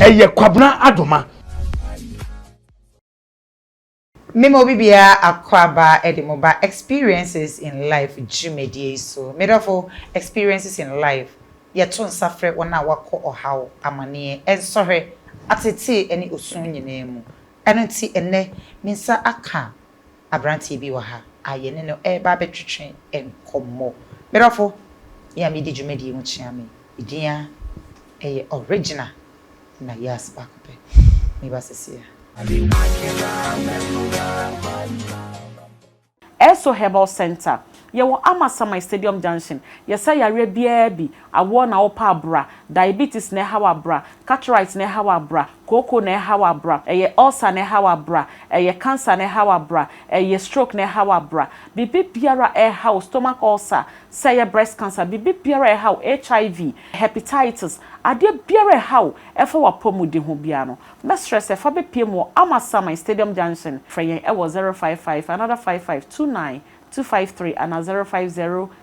Ɛyɛ Kwabena Adoma. Me ma obi biara akwaaba de mo ba Experiences in Life dwumadie yi so. Me dɔfo, Experiences in Life yɛ to nsa frɛ wɔn a wɔakɔ ɔhaw, amaneɛ, nsɔhwɛ, atetee ne osu nyinaa mu. Ɛno nti ɛnnɛ me nsa aka Aberanteɛ bi wɔ ha a yɛne no reba abɛtwetwe nkɔmmɔ. Me dɔfo, me a medi dwumadie ho kyea me, me din ara yɛ Ɔregina na Yas baako pɛ. Meba seesei a. Esso Herbal Centre, Yɛwɔ Amasaman Stadium Junction, Yɛsa yareɛ biara bi, Awoɔ na wopɛ a bra. Diabetes na ɛha wo a bra. Cataract na ɛha wo a bra. Kooko na ɛha wo a bra. Ɛyɛ ulcer na ɛha wo a bra. Ɛyɛ cancer na ɛha wo a bra. Ɛyɛ stroke na ɛha wo a bra. Biribi biara a ɛha wo, stomach ulcer, sɛ ɛyɛ breast cancer, biribi biara a ɛha wo, HIV, hepatitis, adeɛ biara a ɛha wo ɛfa w'apɔmuden ho biara no, mɛsrɛ sɛ fa bɛpue mu wɔ Amasaman, Stadium Junction. Frɛ yɛn wɔ zero five five another five five two nine two five three anaa zero five zero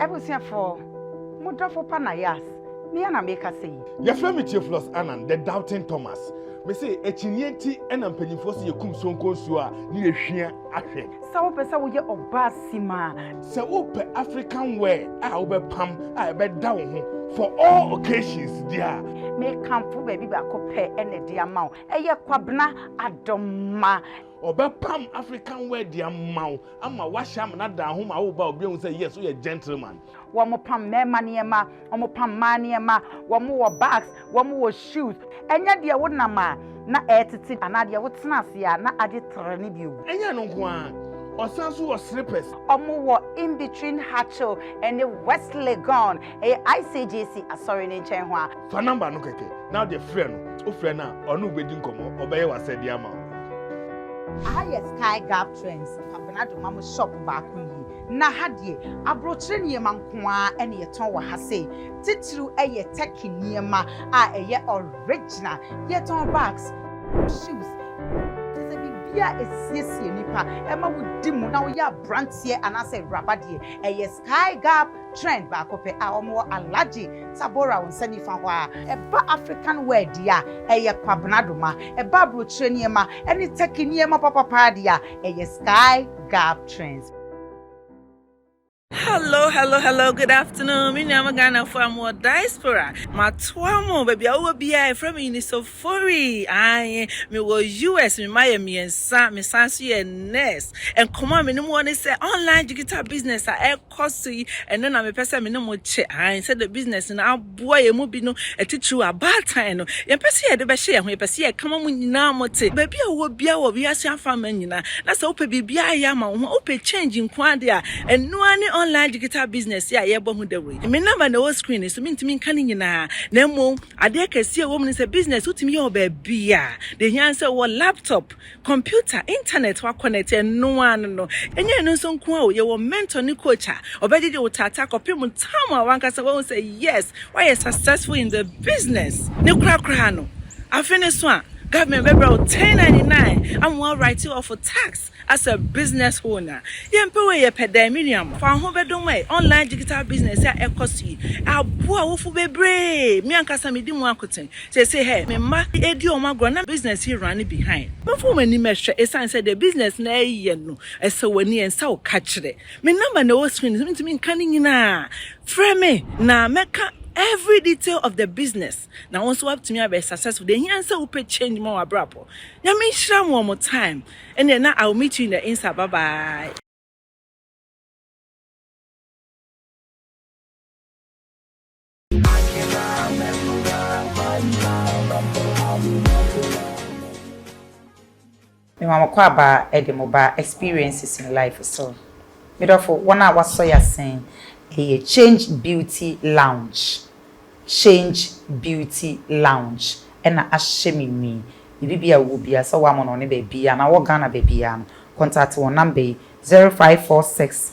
Abusuafo, mo dɔfo pa Nayas, me ara na merekasa yi. Wɔfrɛ me Theophilus Annan, the doubting Thomas. Mise, akyinnye nti na mpanyimfoɔ se yɛkum Sonko nsuo a ne yɛ hwia ahwɛ. Sɛ wopɛ sɛ woyɛ ɔbaa simma a. Sɛ wopɛ African wear a wobɛpam a ɛbɛda wo ho for all occasions deɛ a. Mekamfo baabi baako pɛ na ɛde ama wo, ɛyɛ Kwabena Adomah. Ɔbɛpam African wear de ama wo ama wahyɛ amena daa ho ma wo ba obi ehu sɛ yes woyɛ gentleman. Wɔn pam mmarima nneɛma, wɔn pam mmaa nneɛma, wɔn wɔ bags, wɔn wɔ shoes. Ɛnyɛ deɛ wo nam a na ɛretete anaa deɛ wo tena ase a na agye terɛ ne bi o. Ɛnyɛ ɛno nko ara, ɔsan nso wɔ slippers. Wɔn wɔ in between Hatchel ɛne West Legon, ɛyɛ ICGC asɔre no nkyɛn ho a. Fa number no kɛkɛ na wode frɛ no, wofrɛ no a ɔne wo bɛdi nkɔmmɔ, ɔbɛyɛ w'asɛdeɛ ama wo. Aha yɛ Sky Gap Trends Kwabena Domam shop baako nie. Na ha deɛ abrokyire nneɛma nko ara na yɛtɔn wɔ ha sei. Titiriw yɛ Turkey nneɛma a ɛyɛ original. Yɛtɔn bags, shoes, kyerɛ sɛ biribiara a ɛsiesie nipa, ɛma wodi mu na woyɛ abranteɛ anaasɛ awuraba deɛ, ɛyɛ Sky Gap Trend baako pɛ a wɔwɔ Alhaji Tabora wo nsa nifa hɔ a. Ɛba African wear deɛ a, ɛyɛ Kwabena Doma. Ɛba abrokyire nneɛma ɛne Turkey nneɛma papapaa deɛ a, ɛyɛ Sky Gab Trends. Hello hello hello good afternoon me nua mo Ghana fo a mo wɔ diaspora matoa mo baabi a wowɔ biara ɛfrɛ me Unisofori ae me wɔ US me ma yɛ mmiɛnsa me san so yɛ nurse nkɔmɔ a me ne mo wɔ ne sɛ online digital business a kɔ so yi, ɛno na mepɛ sɛ me ne mo kyɛ, ae, sɛdeɛ business no aboa yɛn mu binom, titiriw abaatan no. Yɛmpɛ sɛ yɛde bɛhyɛ yɛn ho, yɛpɛ sɛ yɛka ma mo nyinaa mote, baabi a wowɔ biara wɔ wiase afaman nyinaa, na sɛ wopɛ biribiara ayɛ ama wo ho a, wopɛ change nko ara deɛ a, ɛno ara ne online digital business yi a yɛrebɔ ho dawuro yi. Me number na ɛwɔ screen no so, mentumi nka ne nyinaa, na mmom adeɛ kɛseɛ a ɛwɔ mu ne sɛ, business wotumi yɛ wɔ baabiara, deɛ ɛhia ne sɛ wowɔ laptop, Computer, internet wa connect ɛno ara no no. Ɛnyɛ ɛno nso nko ara o, yɛwɔ mentor ne coach a ɔbɛgyegye wo taataa kɔpem time a wankasa wahu sɛ yes, woayɛ successful in the business. Ne kora koraa no, afe no so a, government bɛbrɛ wo 1099 ama wa write off tax as a business owner. Yɛmpɛ wei, yɛpɛ dɛn? Me nua mo, fa wo ho bɛdom ɛ, online digital business a ɛkɔ so yi, aboa awofo bebree, me ankasa medi mu akoten. Sesei hɛ, me mma redi wɔn agorɔ na business yi running behind. Momfa wɔn anim nhwɛ, esiane sɛ deɛ business no reyɛ no, ɛsɛ wɔn ani, ɛnsɛ wo ka kyerɛ. Me number na ɛwɔ screen no so, mentumi nka ne nyinaa. Frɛ me na mɛka every detail of the business na wo nso woatumi abɛyɛ successful. Deɛ ɛhia ne sɛ wopɛ change ma w'abrabɔ. Nyame nhyira mo wɔ mo time. Ɛnneɛ na I will meet you in the Insta. Bye bye. Mema mo kwaaba de mo ba experiences in life so. Me dɔfo, wɔn a wɔasɔ yɛn asen yɛ Change Beauty Lounge, Change Beauty Lounge na ahyɛ me nwi. Biribiara a wowɔ biara, sɛ wɔamono wo ne baabiara anaa wowɔ Ghana baabiara no, contact wɔn number yi, 0546.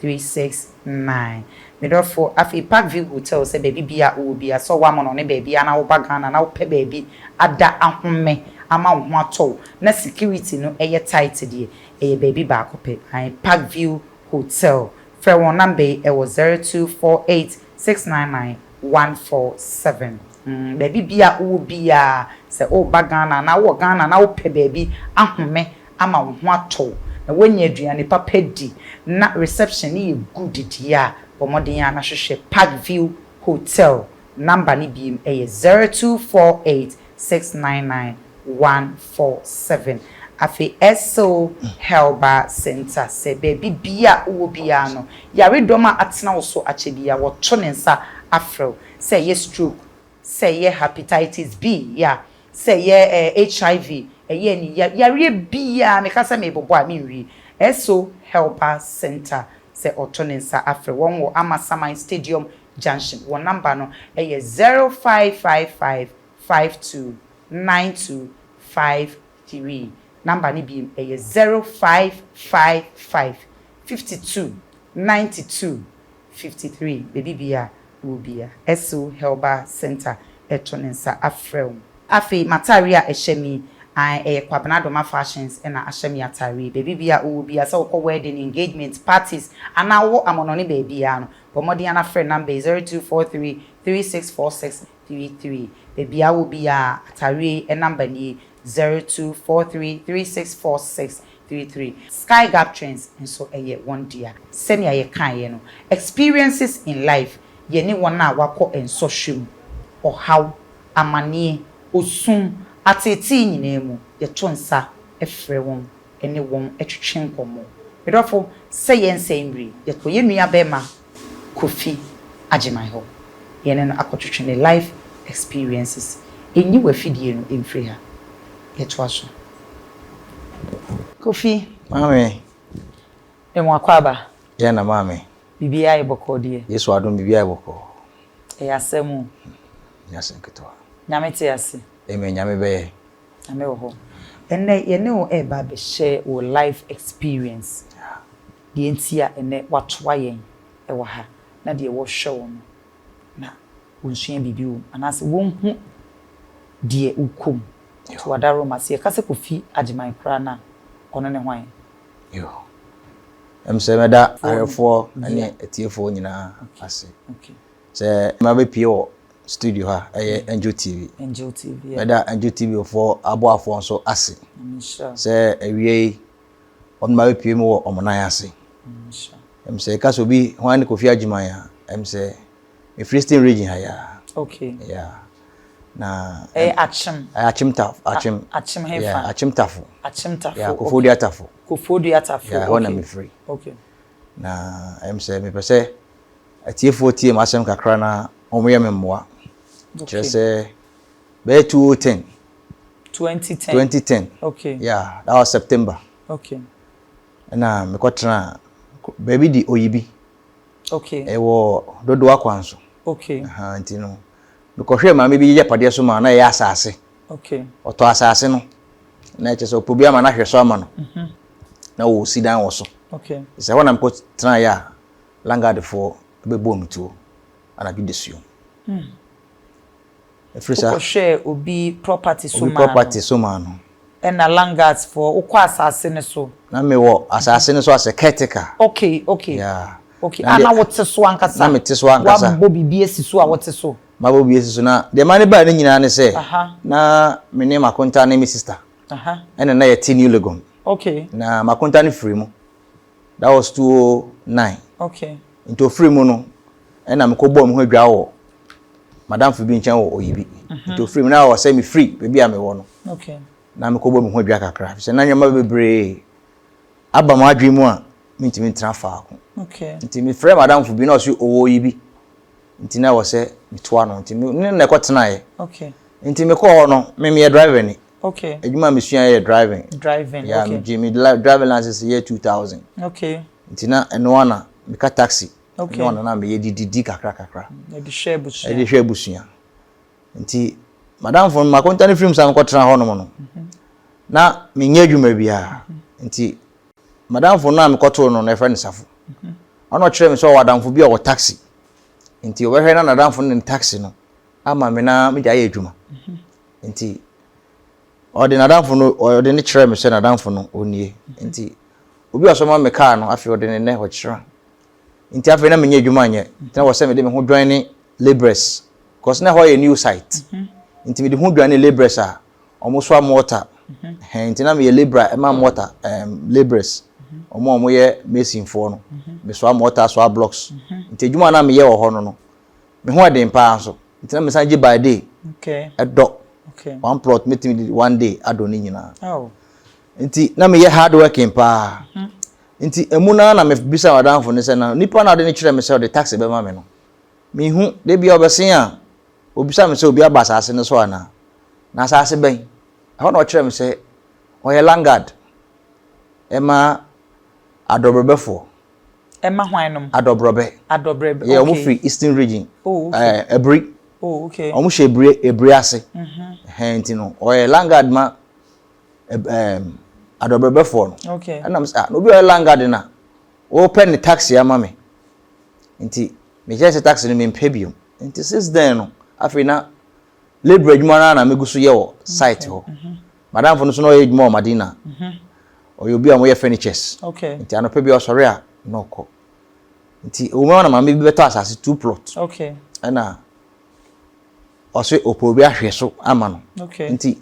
three six nine Me dɔfo afei Park View Hotel sɛ baabi biaa wowɔ biaa sɛ ɔwɔ amono ne baabiaa na woba Ghana na wopɛ baabi ada ahome ama wo ho atɔ wo na security no yɛ tight deɛ ɛyɛ baabi baako pɛ ae Park View Hotel Frɛ wɔn number yi ɛwɔ zero two four eight six nine nine one four seven mm Baabi biaa wowɔ biaa sɛ woba Ghana anaa wowɔ Ghana na wopɛ baabi ahome ama wo ho atɔ wo na woanya aduane papa di na reception no yɛ good deɛ a, bɔ mmɔden ara na hwehwɛ Park View Hotel. Number no bio yɛ zero two four eight six nine nine one four seven. Afei Essel Herbal Centre sɛ baabi biara a wowɔ biara no, yaredɔm a atena wo so akyɛ biara wɔto ne nsa afrɛ wo, sɛ ɛyɛ stroke, sɛ ɛyɛ Hepatitis B, ya, sɛ ɛyɛ eh, HIV, ɛyɛ ani ya, yareɛ biaa, meka sɛ merebobɔ a menwie, Esso Helper Centre sɛ ɔto ne nsa afrɛ wɔn wɔ Amasaman Stadium Junction, wɔn number no yɛ 0555 52 92 53, number no biem ɛyɛ 0555 52 92. fifty three baabi biara a wowɔ biara, SO Helba Center to ne nsa afrɛ wo. Afei m'atareɛ a ɛhyɛ me yi, ae, ɛyɛ Kwabena Adomah Fashions na ahyɛ me atareɛ yi. Baabi biara a wowɔ biara, sɛ wokɔ wedding, engagement, parties, anaa wowɔ amɔnɔne baabiara no, bɔ mmɔden ara na frɛ number yi, zero two four three three six four six three three. Baabi a wowɔ biara, atareɛ yi number nie, zero two four three three six four six three three. Sky Gap Trends nso yɛ wɔn dea. Sɛnea yɛkaeɛ no, Experiences in Life yɛ ne wɔn a wɔakɔ nsɔhwɛ mu, ɔhaw, amaneɛ, osum, ateetee nyinaa mu, yɛto nsa frɛ wɔn ne wɔn twetwe nkɔmmɔ. Me dɔfo, sɛ yɛn nsa mmire, yɛtɔ yɛn nuabarima Kofi Agyeman hɔ. Yɛne no akɔtwetwe ne life experiences. Nyi w'afidie no mfiri ha. Yɛtoa so. Kofi. Maame. Yɛn akwaaba. Yɛn na maame. Biribiara ayɛ bɔkɔɔ deɛ. Yesu adom biribiara ayɛ bɔkɔɔ. Ɛyɛ asɛm o. Ɛnyɛ asɛm ketewa. Nyame te ase. Amen Nyame bɛyɛ. Nyame wɔ hɔ. Ɛnnɛ yɛne wo reba abɛhyɛ wo life experience. Deɛ nti a ɛnnɛ wɔatoa yɛn wɔ ha na deɛ wɔhwɛ wo no, na wɔnsua biribi wɔ mu anaasɛ wɔnhu deɛ wokɔ mu. To w'adaworoma. Sɛ yɛka sɛ Kofi Agyeman koraa no a, ɔno ne hwan? Yo. Ɛm sɛ mɛda ahwɛfoɔ ne atiefoɔ nyinaa ase sɛ mabɛpue wɔ studio ha a ɛyɛ Angel TV. Angel TV. Mɛda Angel TV foɔ aboafoɔ nso ase sɛ awie yi wɔn ma bɛpue mu wɔ wɔn nan ase. Ɛm sɛ ɛka sɛ obi hwan ne Kofi Agyeman a ɛm sɛ Mefilistine region ha yɛ Okay. Yeah. Na ɛyɛ eh, akyem. Ɛyɛ eh, akyem tafo. Akyem. Akyem hefa. Yeah, akyem tafo. Akyem tafo. Yeah, kofo dua tafo. Kofo dua tafo. Yeah, hɔ na mi firi. Okay. Na ɛm sɛ mepɛ sɛ atiefoɔ tie mu asɛm kakra na wɔn yɛ me mmoa. Kyerɛ sɛ bɛyɛ two o oh ten Twenty ten. Twenty ten. Okay. Yeah, that was September. Okay. Ɛna mekɔ tena baabi di Oyibi. Okay. Ɛwɔ dodoɔ akwan so. Okay. Aha nti no mekɔhwɛ maame bi yɛ padeɛ so ma na ɛyɛ asaase. Okay. Ɔtɔ asaase no na ɛkyɛ sɛ ɔpɔ bi ama no ahwɛ so ama no. Mhm. Na wɔsi dan wɔ so. Okay. Sɛ hɔ na mekɔ tena yɛ a langadefoɔ bɛbɔ me tuo anadwo da suom. Mm. Ɛfiri sa. Wokɔ hwɛɛ obi property so maa no. Obi property so maa no. Ɛna langas foɔ wokɔ asaase no so. Na me wɔ asaase no so asɛ caretaker. Okay okay. Yeah. Okay a na wote so ankasa. Na me te so ankasa. Wabɔ biribi asi so a wote so. Mabɔ biribi asi so na deɛ maa ne baa ne nyinaa ne sɛ. Aha. Na me ne makonta ne me sister. Aha. Ɛna na yɛte new legon. Okay. Na makonta ne firi mu. That was two oh nine. Okay. Nti ofiri mu no, ɛna mekɔ bɔɔ me ho adwa wɔ madamfo bi nkyɛn wɔ oyi bi. Mhm. Nti ofiri mu na ɔsɛ me firi baabi a mewɔ no. Okay. Na mekɔ bɔ me ho adwa kakra. Sɛ na nneɛma bebree aba mo adwene mu a mentumi ntena faako. Okay. Nti mefrɛ madamfo bi na ɔsɛ owɔ oyi bi. Nti na ɔsɛ metoa no. Nti ne na ɛkɔ tenaeɛ. Okay. Nti mekɔ hɔ no, me meyɛ driver ni. Okay. Adwuma a mesua yɛ driving. Driving, yeah, okay. Yeah, me driving license yɛ 2000. Okay. Nti na ɛno ara na meka taxi. Okay. Ɛno ara na meyɛ de didi kakra kakra. Ɛde hwɛ abusua. Ɛde hwɛ abusua. Nti madamfo no makonta no firi mu san kɔtena hɔnom no mhm. na menyɛ adwuma biara. Mhm. Nti madamfo no a mekɔtoo no na ɛfrɛ no safo. Mhm. Ɔno ɔkyerɛ me sɛ ɔwɔ adamfo bi a ɔwɔ taxi. Nti ɔbɛhwɛ na nadamfo no ne taxi no ama me na megya yɛ adwuma. Nti Ɔde n'adamfo no, ɔde no kyerɛɛ me sɛ n'adamfo no ɔnnie. Nti obi a ɔsɔma me kaa no, afei ɔde ne nnɛ ɔkyerɛ. Nti afei na menyɛ adwuma nyɛ. Nti na wɔ sɛ mede me ho dwan ne laborers. Because na ɛhɔ yɛ new site. Mhm. Nti mede ho dwan ne laborers a wɔsoa mortar. Mhm. Nti na meyɛ laborer ɛma mortar um, laborers. Wɔn mhm. a wɔyɛ masonfoɔ no. Mesoa mortar, soa blocks. Nti adwuma a na meyɛ wɔ hɔ no no, Me ho ɛden paa nso nti na me san gye by day ɛdɔ one plot me timi di one day adɔ ne nyinaa nti na me yɛ hard working paa mhm. nti emu naa na me bisa wadanfo ne sɛ na nipa na ɔde ne kyerɛ me sɛ ɔde taxi bɛma me no me hu de bia ɔbɛsen a obisa me sɛ obi aba asase no so anaa na asase bɛn ɛhɔ na ɔkyerɛ me sɛ ɔyɛ langard ɛma adɔbrɛbɛfoɔ. Ɛma hwannom? Adɔbrɔbɛ. Adɔbrɛbɛ, okay. Yeah, wɔn firi Eastern region. Oh, okay. Ɛɛ eh, Ebiri. Oh, okay. Wɔn hyɛ Ebiri Ebiri ase. Mhm. Ɛhɛn ti no, ɔyɛ Langard ma ɛb ɛɛm adɔbrɛbɛfoɔ no. Okay. Ɛna mo sɛ ah na obi a ɔyɛ Langard na wɔpɛ ne taxi ama me. Nti mekyerɛ sɛ taxi no mempɛ biom. Nti since then no afei na Labour adwuma no ara na megu so yɛ wɔ site hɔ. Madamfo no nso na ɔyɛ adwuma wɔ Madina. Ɔyɛ obi a wɔyɛ furnitures. Nti anɔpa bi ɔsɔre a na ɔkɔ. Nti ɛwɔ mu na maame bi bɛtɔ asase two plot. Ɛna ɔse ɔpɛ obi ahwɛ so ama no. Nti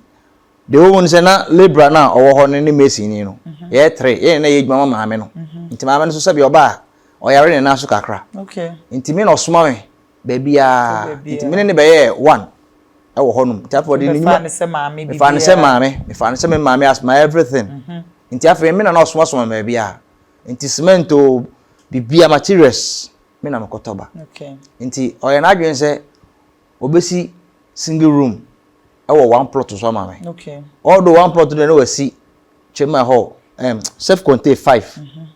deɛ ɛwɔ mu no sɛ na labourer no a ɔwɔ hɔ no ne mason ni no yɛyɛ three yɛn na yɛ adwuma ma maame no. Nti maame no nso sɛbi ɔbaa ɔyare ne nan so kakra. Nti me na ɔsoma me baabiara nti me ne no bɛyɛɛ one ɛwɔ hɔnom nti afei ɔde ne nnwuma mefaa no sɛ maame mefaa no sɛ me maame as my everything mhm. nti afei me na na ɔsomasoma baabiara nti cement o biribiara materials me na mekɔtɔ ba nti ɔyɛ n'adwene sɛ ɔbɛsi single room ɛwɔ one plot so ama me ɔdo one plot no na wasi twema hɔ um, self contained five mm -hmm.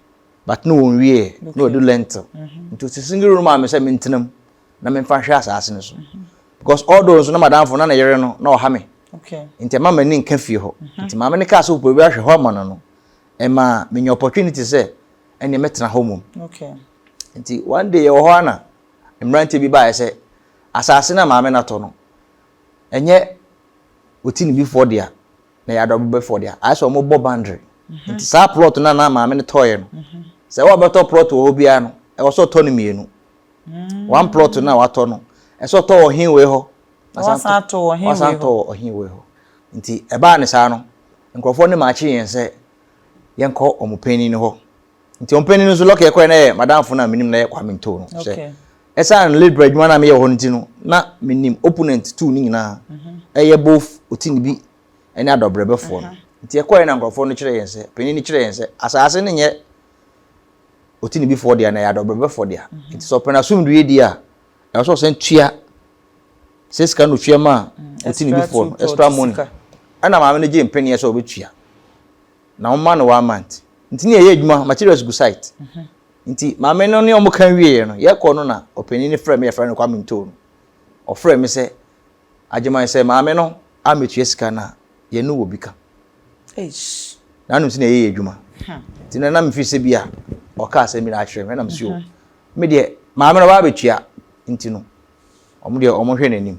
but no wɔn wie na wɔde lentil mm-hmm. nti sisi ngi room a mi sɛ mi ntena mu na mi nfa hwɛ asaase no so mm-hmm. because although nso na madamfo na ne yere no na ɔha mi nti ɛma m'ani nka fie hɔ mm-hmm. nti maame ne kaa sɛ ɔpɛ bi ahwɛ hɔ ama no no ɛma menya opportunity sɛ ɛnneɛ mɛtena hɔ mmom nti one day yɛwɔ hɔ ana mmeranteɛ bi baeɛ sɛ asaase no a maame no atɔ no ɛnyɛ ɔti ne bifoɔ dea na ɛyɛ adɔbɛbɛfoɔ dea ayɛ sɛ wɔbɔ boundary mhm. nti saa plot no na maame no tɔɔeɛ no mhm. sɛ wɔbɛtɔ plot wɔ hɔ biara no ɛwɔ sɛ ɔtɔ no mmienu mm. one plot no a watɔ no ɛsɛ ɔtɔ wɔ hin wei hɔ wasan tɔ wɔ hin wei hɔ nti ɛbaa ne saa no nkurɔfoɔ no maakye yɛn sɛ yɛnkɔ wɔn panyin no hɔ nti wɔn panyin no nso lɔkɛ kɔɛ na yɛ madamfo na menim na yɛ kwame ntow no hyɛ ɛsan labor adwuma na meyɛ hɔ no ti no na menim opponent two ne nyinaa mhm. ɛyɛ both oti ne bi ɛne adɔbrɛbɛfoɔ no mhm. nti ɛkɔɛ na nkurɔfoɔ no kyerɛ yɛn sɛ panyin no kyerɛ yɛn sɛ asaase no nyɛ oti ne bifoɔ deɛ na yɛ adɔbrɛbɛfoɔ deɛ mhm. nti sɛ ɔpɛn asomdue deɛ a ɛwɔ sɛ ɔsɛn tua sɛ sika no tua ma mm, oti ne bifoɔ no extra money ɛna maame no gye mpanyin sɛ ɔbɛtua na wɔn mma no one month nti ne yɛyɛ adwuma materials gu site nti maame no ne wɔn ka wieɛ no yɛkɔ no na ɔpanin no frɛ me yɛfrɛ no kwame ntoo no ɔfrɛ me sɛ agyeman sɛ maame no amɛtua sika no a yɛne wɔ bi ka na anom sɛ na yɛyɛ adwuma nti na na mefiri sɛ bi a ɔka asɛm bi na akyerɛ me na mesi o me deɛ maame no ɔbaa bɛtua nti no wɔn deɛ wɔn hwɛ n'anim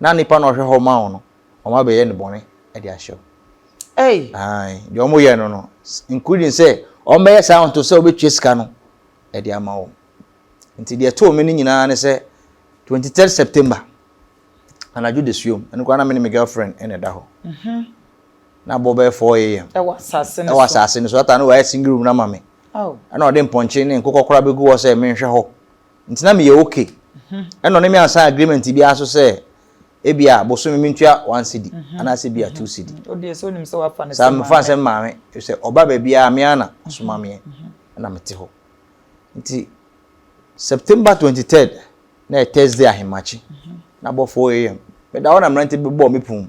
na nipa na ɔhwɛ hɔ ma wo no wɔn abɛyɛ no bɔne de ahyɛ wo. Ɛy. Ae deɛ wɔn yɛ no no including sɛ wɔn bɛyɛ saa nto sɛ wɔbɛtua sika no ɛde ama wɔn nti deɛ ɛtoo me no nyinaa ne sɛ twenty third September anadwo de suom ɛno koraa na me ne me girlfriend ɛna ɛda hɔ. Mhm. Na bɔ bɛyɛ four a.m. Ɛwɔ asase no so. Ɛwɔ asase no so ata no wɔayɛ single room na ma me. Oh. Ɛna ɔde mpɔnkye ne nkokɔ koraa bɛgu hɔ sɛ menhwɛ hɔ. nti na meyɛ ok. Ɛna ɔne me ansan agreement bi ara so sɛ ebi a bosome mentua one cedi anaasɛ bi a two cedi. Saa mefa nsɛm maame sɛ ɔba baabi a me ara na ɔsoma meɛ ɛna mete hɔ. Nti September twenty third na yɛ Thursday ahemakye na bɔ four am meda hɔ na mmerante bɛbɔɔ me pon mu.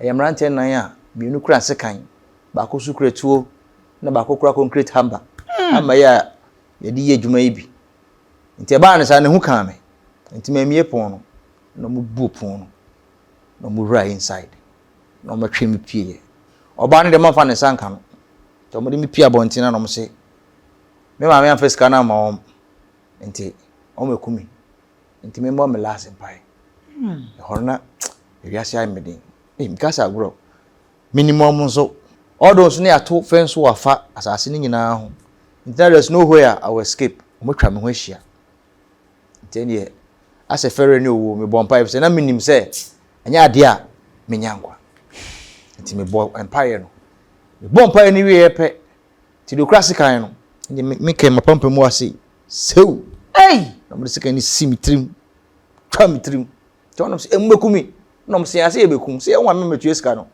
Ɛyɛ mmeranteɛ nnan a mmienu kura sekan, baako nso kura tuo, na baako kura concrete hammer, hammer yi a yɛde yɛ adwuma yi bi. Nti ɛbaa no saa no, ehu kaa me. Nti mammie pon no, na wɔbuo pon no, na wɔwura inside, na wɔtwe me pieeɛ. Ɔbaa no deɛ mamfa ne nsa nka no, nti wɔde me pie abɔnten na wɔse me maame amfa sika no amma wɔn, nti wɔaku me. ntumi mmɔ me last mpae ɛhɔ no na ewiase ayɛ me den ee mekasa agorɔ minimum nso ɔdɔ nso ne ato fɛn so afa asase no nyinaa ho nti na there's no way a i will escape wɔatwa me ho ahyia nti ɛneɛ asɛ fɛrɛ ne owuo mebɔ mpaeɛ sɛ na menim sɛ ɛnyɛ adeɛ a menya nkwa nti mebɔ mpaeɛ no mebɔ mpaeɛ no wieɛ pɛ Nti deɛ ɔkura sekan no, ɛnde me, me kɛn m'apampam mu ase, sew! Ei! Na wɔde sekan no si me tirim, twa me tirim. Nti wɔnom sɛ, ɛmubɛku me. Na wɔn sɛ, ase yɛbɛku, sɛ yɛn wɔn a mɛtua sika no.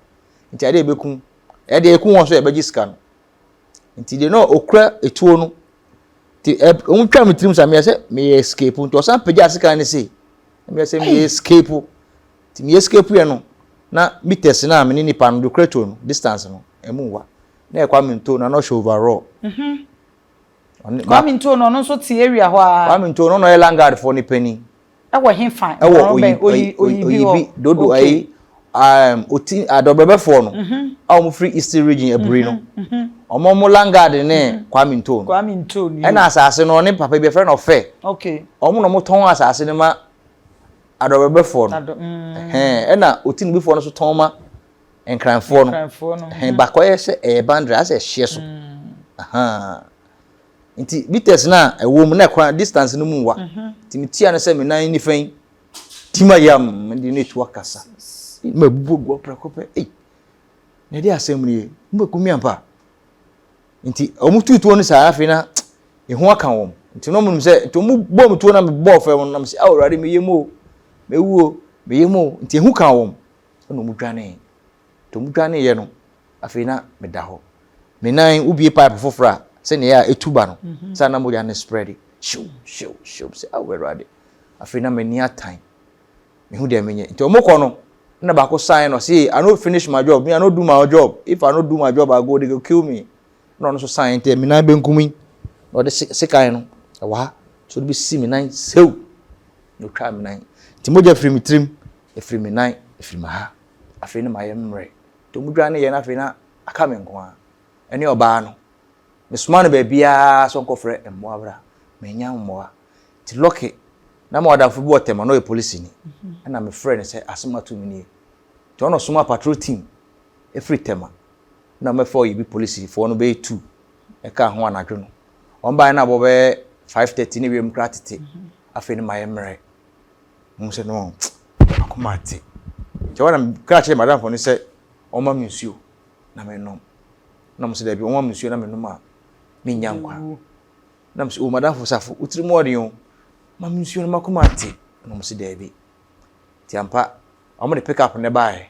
Nti adeɛ yɛbɛku, ɛdeɛ yɛku wɔn so yɛbɛgye sika no. Nti deɛ na ɔkura etuo no, nti ɛ, wɔn twa me tirim sa, meyɛ sɛ meyɛ escape, nti ɔsan pagya sekan no sei. Na meyɛ sɛ meyɛ escape, nti meyɛ escape yɛ no, na meters no a me ne nipa no de ɔkura tuo no, distance no, ɛmu nwa. Na yɛ Kwame Ntoh na na ɔhyɛ overall. Mhm. Ɔne Kwame Ntoh no ɔno nso te area hɔ ara. Kwame Ntoh no na ɔyɛ Langard foɔ ne panin. Ɛwɔ he fa? Ɛwɔ oyi oyi oyi bi hɔ. Dodo ayi um, oti adɔbrɛbɛfoɔ no. Mhm. A wɔn firi Eastern region aburi no. Mhm. Wɔn wɔn Langard ne Kwame Ntoh no. Kwame Ntoh no. Ɛna asaase no ɔne papa bi yɛfrɛ no ɔfɛ. Okay. Wɔn na wɔtɔn asaase no ma adɔbrɛbɛfoɔ no. Adɔ mm. Ɛhɛn ɛna otinibifoɔ no so tɔn ma. Nkranfoɔ no. Nkranfoɔ no. Hɛn baako ayɛ sɛ ɛyɛ boundary asɛ ɛhyeɛ so. Ahaa. Nti meters no a ɛwɔ mu na ɛkwan distance no mu wa. Nti metia no sɛ me nan nifa yi tim ayɛ am mede no etu akasa. Ma ebubu agu hɔ prɛko pɛ. Ei. Na ɛde asɛm nie. Mobɛku me ampa. Nti wɔn tu tuo no saa afei na ehu aka wɔn. Nti na wɔn nim sɛ nti wɔn bɔ me tuo na mebɔɔ fam no na me sɛ awo awurade meyɛ mu o. Mewu o. Meyɛ mu o. Nti ehu ka wɔn. ɛna wɔn dwanee nti wɔn dwanee yɛ no afei na me da hɔ me nan wo bie pipe foforɔ a sɛ nea yɛ a etu ba no mhm. sɛ na mogya ne spread hyew hyew hyew sɛ awo ah, ɛwurade afei na m'ani atan mehu deɛ menyɛ nti wɔn kɔ no na baako sign no say i no finish my job me i no do my job if i no do my job i go they go kill me na ɔno nso sign nti me nan benkum yi na ɔde sekan no ɛwɔ ha so ɔde bɛsi me nan sew na ɔtwa me nan nti mogya firi me tirim Efiri me nan, efiri me ha. Afei na mayɛ mmrɛ. Nti ɔmo dwane yɛ na afei na aka me nko ara. Ɛne ɔbaa no. Me soma no baabiara sɛ ɔnkɔ frɛ mmoa bra. Me nya mmoa. Nti Lɔke, na me wɔ adamfo bi wɔ Tema na ɔyɛ polisini. Ɛna me frɛ no sɛ asem ato me nie. Nti ɔna ɔsoma patrol team efiri Tema na ɔmo bɛfa ɔyɛ bi polisi foɔ no bɛyɛ two ɛka ho anadwo no. Ɔmo baeɛ na abɔ bɛyɛ five thirty ne wiem koraa tete. Afei na mayɛ mmrɛ. Muhu sɛ no, m'akoma ate. Enti ɛhɔ na meka kyerɛɛ m'adamfo no sɛ ɔmma me nsuo na mennom. Na ɔmo se daabi, ɔmma me nsuo na mennom a mennya nkwa. Na mese, o m'adamfo Safo, wo tiri mu ɔden o, ma me nsuo no m'akoma ate. Na ɔmo se daabi. Enti ampa, ɔmo de pick up no baeɛ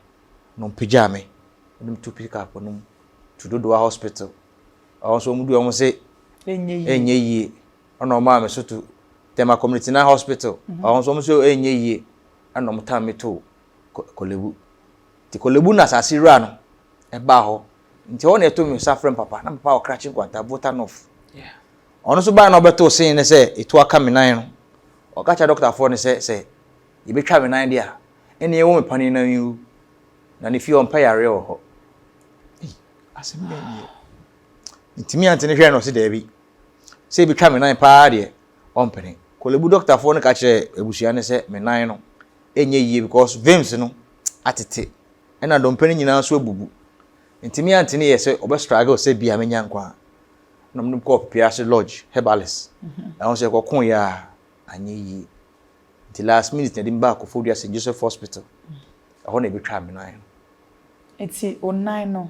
na ɔmo pagyaa me. Ɛna metu pick up no mu tu Dodowa hospital. Ɛhɔ nso ɔmo dui ɔmo se ɛnyɛ yie. ɛna ɔmaa me so to Tema Community Nine Hospital ɔno nso wɔn nso ɛnyɛ yie ɛna wɔn tam me to Kolebu nti Kolebu na asase wura no ɛbaa hɔ nti hɔ na ɛto me nsa frɛ me papa na papa wɔ Krakye Nkwanta Volta North ɔno nso baa na ɔbɛto sin ne sɛ etu aka me nan no ɔka kyerɛ dɔktafoɔ no sɛ sɛ yɛbɛtwa me nan deɛ a ɛne ɛwɔ me panin nan yi wu na ne fie ɔmpɛ yareɛ wɔ hɔ asɛm bɛn deɛ ntumi ante ne hwɛ na ɔse daabi Sɛ ebi twa me nan paa deɛ, ɔmpene. Korle Bu dɔktafoɔ no ka kyerɛɛ abusua no sɛ me nan no nyɛ yie because veins no atete ɛna dompe no nyinaa nso abubu. Nti me aunty no yɛɛ sɛ ɔbɛ struggle sɛ bia mɛnya nkwa a. Ɛna ɔmo de me kɔɔ Pepease Lodge, herbalist. Ɛhɔ nso yɛkɔkoeɛ a anyɛ yie. Nti last minute na yɛde me baa Koforidua St. Joseph Hospital. Ɛhɔ na yɛbɛtwaa me nan no. Nti wo nan no,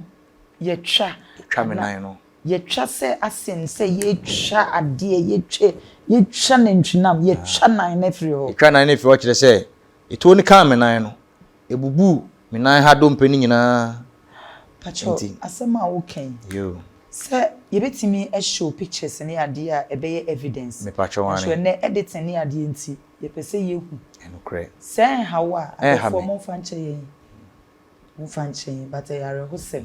yɛtwa? Yɛtwa me nan no. Yɛtwa sɛ asɛm sɛ yɛtwa adeɛ, yɛtwa, yɛtwa nantwinam, yɛtwa nan no afiri hɔ. Yɛtwaa nan no firi hɔ kyerɛ sɛ, etuo no kaa me nan no. Ebubuu me nan ha dompe no nyinaa. Pacho, asɛm a woka yi. Yoo. Sɛ yɛbɛtumi show pictures ne adeɛ a ɛbɛyɛ evidence. Me pacho wane. Nanso ɛnɛ editing ne adeɛ nti yɛpɛ sɛ yɛhu. Ɛnokorɛ. Sɛ ɛnha wo a, adɔfoɔ monfa nkyɛ yɛn. Monfa nkyɛ yɛn but ɛyɛ awerɛhosɛm.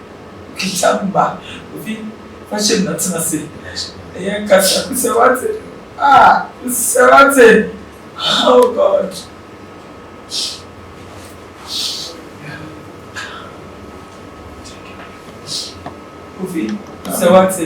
Twitwa mma obi fahyɛ mu na tena ase. Ɛyɛ nkasa bi sɛ wate. Ah, sɛ wate. Oh God. Kofi, sɛ wate.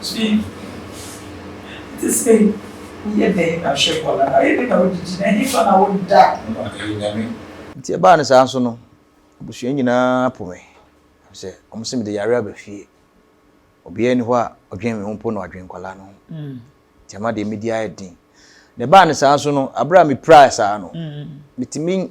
Ntsi sɛ woyɛ dɛn na hwɛ bɔn a, ɔyɛ dɛn na wode gyina, henfa na woda no ma ɔyɛ Nyame? Ntsi ɛbaa no saa so no, ebusua nyina po me, efisɛ wɔse mede yare aba fie. Obiara nnyi hɔ a ɔdwen me ho mpo na ɔadwen nkwadaa no ho. Ntsi ama deɛ medi ayɛ den. Na ɛbaa no saa so no, aber a mipiraa saa no, mitumi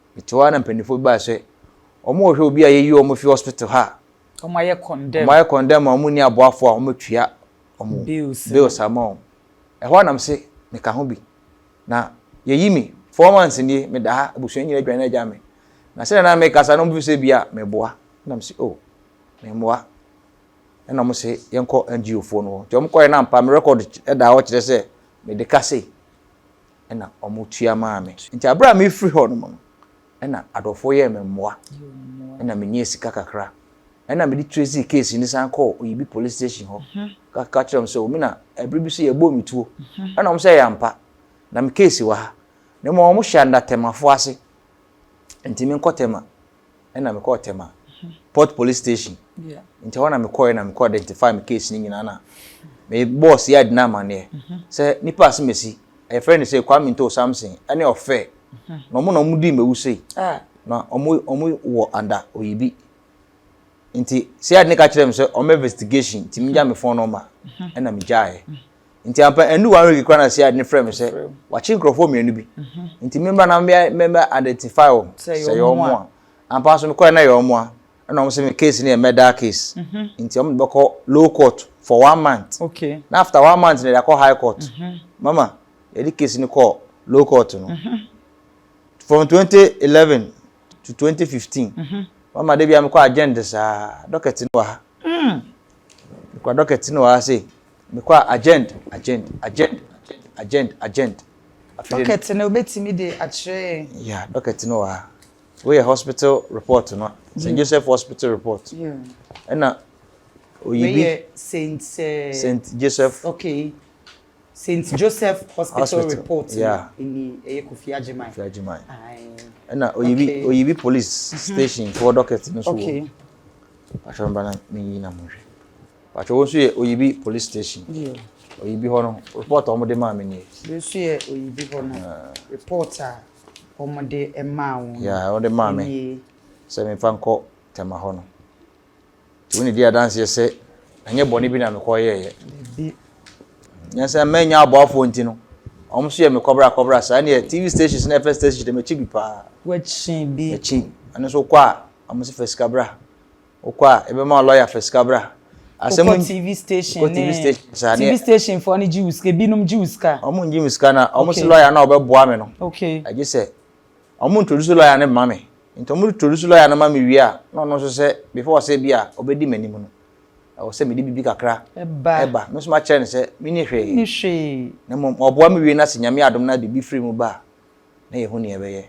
Mete hɔ ara na mpanyinfoɔ bi baa sɛ wɔn rehwɛ obi a yɛyi wɔn fi hospital ha a wɔn ayɛ condemn wɔn ayɛ condemn a wɔn nni aboafoɔ a wɔbɛtua wɔn bills bills ama wɔn. Ɛhɔ ara na me se meka ho bi na yɛyi me four months nie meda ha abusua nyinaa adwane agya me na sɛdeɛ na mekasa no wɔn bi sɛ bia meboa na me se oh memmoa ɛna wɔn se yɛnkɔ NGO foɔ no hɔ nti wɔn kɔɛ na ampa me record ɛda hɔ kyerɛ sɛ mede ka sei na wɔtua maa me. Nti aberɛ a merefiri hɔ nom no, na adɔfoɔ yɛɛ me mmoa, na menyaa sika kakra. Ɛna mede tracee case no san kɔɔ Oyibi Police Station hɔ ka kyerɛɛ wɔn sɛ, O me na ɛberɛ bi nso yɛbɔɔ me tuo. Ɛna wɔn sɛ, Ɛyɛ ampa, na me case wɔ ha. Na mmom wɔhyɛ anna Temafoɔ ase, nti menkɔ Tema. ɛna mekɔɔ Tema Port Police Station nti ɛhɔ na mekɔɛ na mekɔ identify me case no nyinaa na me boss yɛ adi no amanneɛ sɛ nipa ase mesi ɛfrɛ no sɛ Kwame Nto Samson ɛne ɔfɛ na ɔmo na ɔmo di mɛwu sei na ɔmo ɔmo wɔ anda oyibi nti sɛ adi ne ka kyerɛ me sɛ ɔmo investigation nti megya me phone number ɛna megyaeɛ nti ampa ɛnu one week kora na si adi ne frɛ mi sɛ wakye nkurɔfoɔ mmienu bi nti mi mba na mi mɛ identify wɔn sɛ yɛ wɔn mu a ampa nso mi kɔɛ na yɛ wɔn mu a ɛna wɔn sɛ mi case ni yɛ murder case nti wɔn de bɛ kɔ low court for one month okay na after one month na yɛ de akɔ high court mama yɛ de case ni kɔ low court no from twenty eleven to twenty fifteen mama de bi a mi kɔ agenda saa dɔkɛti ni wɔ ha mi kɔ dɔkɛti ni wɔ ha sɛ. Mekɔ a, agent, agent, agent, agent, agent, agent. Dɔkɛt no bɛtumi de akyerɛ yɛn? Ya, dɔkɛt no wɔ ha. Woyɛ hospital report no, St. Joseph Hospital report. Ɛna oyi bi. Meyɛ St. St. Joseph. Okay. St. Joseph Hospital report no, ɛni ɛyɛ Kofi Agyeman. Kofi Agyeman. Ɛna oyi bi, oyi bi police station foɔ dɔkɛt no so wɔ. Ahwɛ mba na menyi na monhwɛ. Pacho wo nso yɛ Oyibi police station. Yeah. Oyibi hɔ no report a wɔn de maa mi nie. Bi nso yɛ Oyibi hɔ no report a wɔn de maa wɔn. Yeah, wɔn de maa mi. Sɛ mi nfa nkɔ tɛma hɔ no. Ti wɔn di adanseɛ sɛ ɛnyɛ bɔnne bi na mi kɔ yɛ yɛ. Bi. Nyansa mɛ nya aboafo nti no. Wɔn nso yɛ mi kɔbra kɔbra saa ne yɛ TV stations na ɛfɛ stations de mi kyi bi paa. Wɔkyi bi. Ɛkyi. Ɛno nso kɔ a wɔn nso fɛ sika bra. Wokɔ a, ebɛma wo lɔya fa sika bra. Asɛm Wokɔ TV station Wokɔ TV ne- station saa tv neɛ station foɔ no gye wo sika binom gye wo sika a ɔmo ngye me sika na ɔmo se Okay. lɔya no a ɔbɛboa me no okay agye sɛ ɔmo introduce lɔya no ma me nti ɔmo introduce lɔya no ma me wie a na ɔno nso sɛ before ɔsɛ bi a ɔbɛdi m'anim no ɛwɔ sɛ mede biribi kakra ɛba ɛba me nso makyerɛ no sɛ menni hwee ne hwee na mmom ɔboa me wie na sɛ nyame adom na biribi firi mu ba a na yɛhu nea ɛbɛyɛ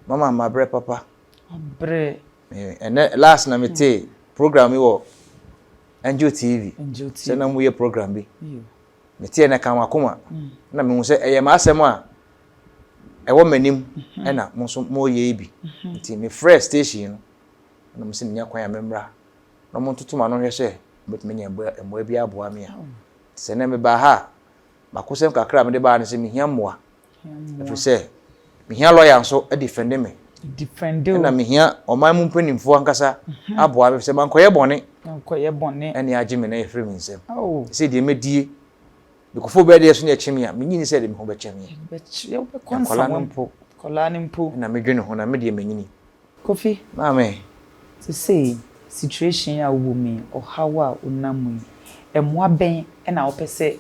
mama mabrɛ papa abrɛ ɛnɛ last na me te program bi wɔ angel tv sɛ na mo yɛ program bi me te ɛnɛ kan wakoma mm. na me hu sɛ ɛyɛ maa asɛm a ɛwɔ m'anim mm-hmm. ɛna mo nso mo yɛ yi bi mm-hmm. nti me frɛ station no na mo sɛ menya kwan a me mmra na mo ntoto ma no hwɛ sɛ mɛtumi nya mmoa bi aboa me a oh. sɛ ɛnɛ me baa ha makosɛm kakra a mede baa no sɛ mehia mmoa Ɛfiri sɛ mehia lɔya nso defɛnde me. Ɛna mehia ɔman mu mpanimfoɔ ankasa aboa me sɛ mankɔyɛ bɔne ɛne agye me na yɛfiri me nsam. Sɛ deɛ mɛdie mekɔfo bɛɛ deɛ so ne ɛkye me a menyi ne sɛ de me ho bɛkyɛ me. Nkɔla no mpo ɛna medwene ho na me deɛ manyini. Kofi, Maame, sesei situation yi a wowɔ mu yi, ɔhaw a wonam mu yi, mmoa bɛn na wopɛ sɛ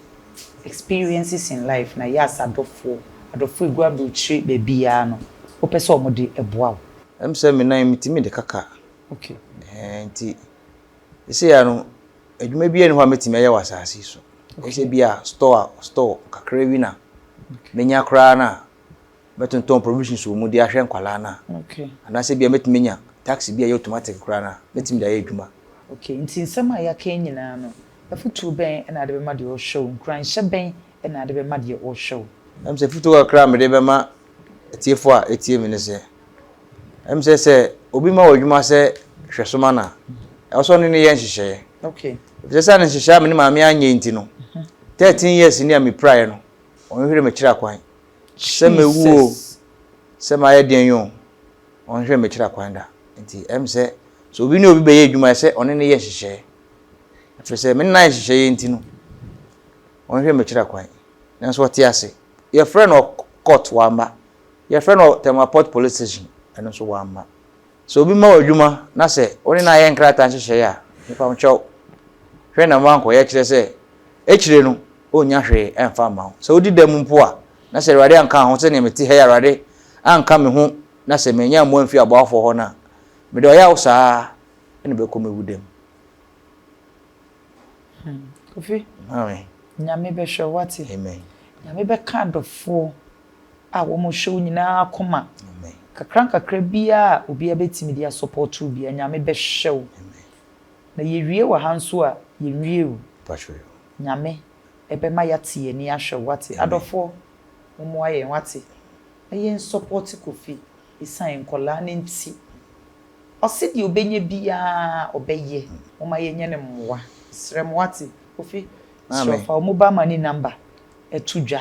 experiences in life na yɛas adɔfoɔ, adɔfoɔ a ɛgu aburokyire baabiara no, wopɛ sɛ wɔde boa wo? Ɛm sɛ me nan yi metumi de kaka. Okay. Ɛɛ nti sesei ara no adwuma biara nni hɔ a mɛtumi ayɛ wɔ asase yi so. Ɛyɛ sɛ bi a store, store kakra bi na mɛnya koraa no a. Mɛtontɔn provisions wɔ mu de ahwɛ nkwadaa no a. Okay. Anaasɛ ebia mɛtumi anya taxi bi a ɛyɛ automatic koraa no a, mɛtumi de ayɛ adwuma. Okay, nti nsɛm a yɛaka yi nyinaa no, afotuo bɛn na wode bɛma deɛ ɔrehwɛ wo? Nkuranhyɛ bɛn na wode bɛma deɛ ɔrehwɛ wo? Ɛm sɛ afotuo kakra a mede bɛma atiefoɔ a ɛtie me ne sɛ, ɛm sɛ sɛ obi ma wɔ adwuma sɛ hwɛso ma no a, ɛwɔ sɛ ɔne no yɛ nhyehyɛeɛ. Okay. Ɛfisɛ sɛ ne nhyehyɛeɛ a me ne maame anyɛ nti no, 13 years ni a mepiraeɛ no, ɔnhwere me kyerɛ akwan. Sɛ mewu o, sɛ mayɛ deɛn yi o, ɔnhwɛ mekyira kwan da. Nti ɛm sɛ sɛ obi ne obi bɛyɛ adwuma ɛsɛ ɔne ne yɛ nhyehyɛɛ. Ɛfiri sɛ me nan nhyehyɛeɛ nti no, ɔnhwɛ mekyira kwan. Nanso ɔte ase. Yɛfrɛ no court wamma. Yɛfrɛ no Tɛmapɔt police station ɛno nso wamma. Sɛ obi ma wo adwuma na sɛ wo ne no ayɛ nkrataa nhyehyɛe a, mepamkyɛw, hwɛ na moankɔyɛ, kyerɛ sɛ, akyire no, ɔrennya hwee mfa mma wo. Sɛ wodi dɛm mpo a, na sɛ Awurade anka wo ho, sɛdeɛ mete ha yi a Awurade anka me ho na sɛ mannya mmoa amfiri aboafoɔ hɔ no a, mede ɔyaw saa ara na mɛkɔ mɛwu dɛm. Hmm. Kofi. Maame. Nyame bɛhwɛ, wate? Amen. Nyame bɛka adɔfoɔ. a wɔhyɛ wo nyinaa akoma nkakrankakra biaa a obiaa bɛtumi de asɔpɔɔto wo biaa Nyame bɛhwɛ wo na yɛwie wɔ ha nso a yɛnwie o Nyame bɛma yɛate yɛn ani ahwɛ wo wate adɔfoɔ mommoa yɛn wate na yɛn sɔpɔɔte Kofi ɛsiane nkɔlaa no nti ɔse deɛ ɔbɛnya biaa ɔbɛyɛ momma yɛnyɛ no mmoa mesrɛ mo wate Kofi srɛ fa wo mobile money number to dwa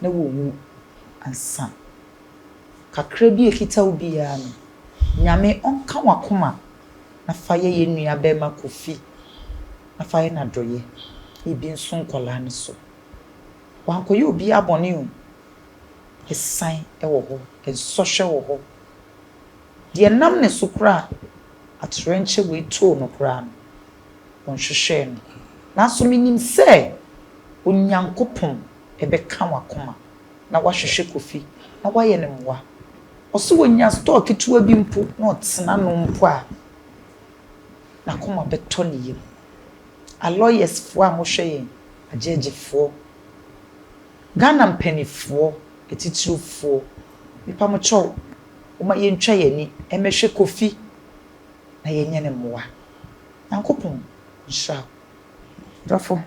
na wowu ansa. Kakra bi a ɛkita wo biara no, Nyame ɔnka w'akoma na fa yɛ yɛn nua bɛɛma Kofi na fa yɛ no adɔyɛ, ebi nso nkwadaa no so. Wankɔyɛ obiara bɔne o, asiane wɔ hɔ, nsɔhwɛ wɔ hɔ. Deɛ ɛnam ne so koraa a atoyerɛnkyɛm wei too no koraa no, wɔnhwehwɛɛ no. Nanso minim sɛ Onyankopɔn bɛka w'akoma na wahwehwɛ Kofi na wayɛ no mmoa. Ɔse onya store ketewa bi mpo na ɔtena ano mpo a, n'akoma bɛtɔ ne yam. Aloyers foɔ a mohwɛ yɛn, Agyɛɛgye foɔ, Ghana mpaninfoɔ, atitiriw foɔ, mepa mo kyɛw, momma yɛntwa yɛn ani mmɛhwɛ Kofi na yɛnyɛ no mmoa. Nyankopɔn nhyira wo. Dɔfo,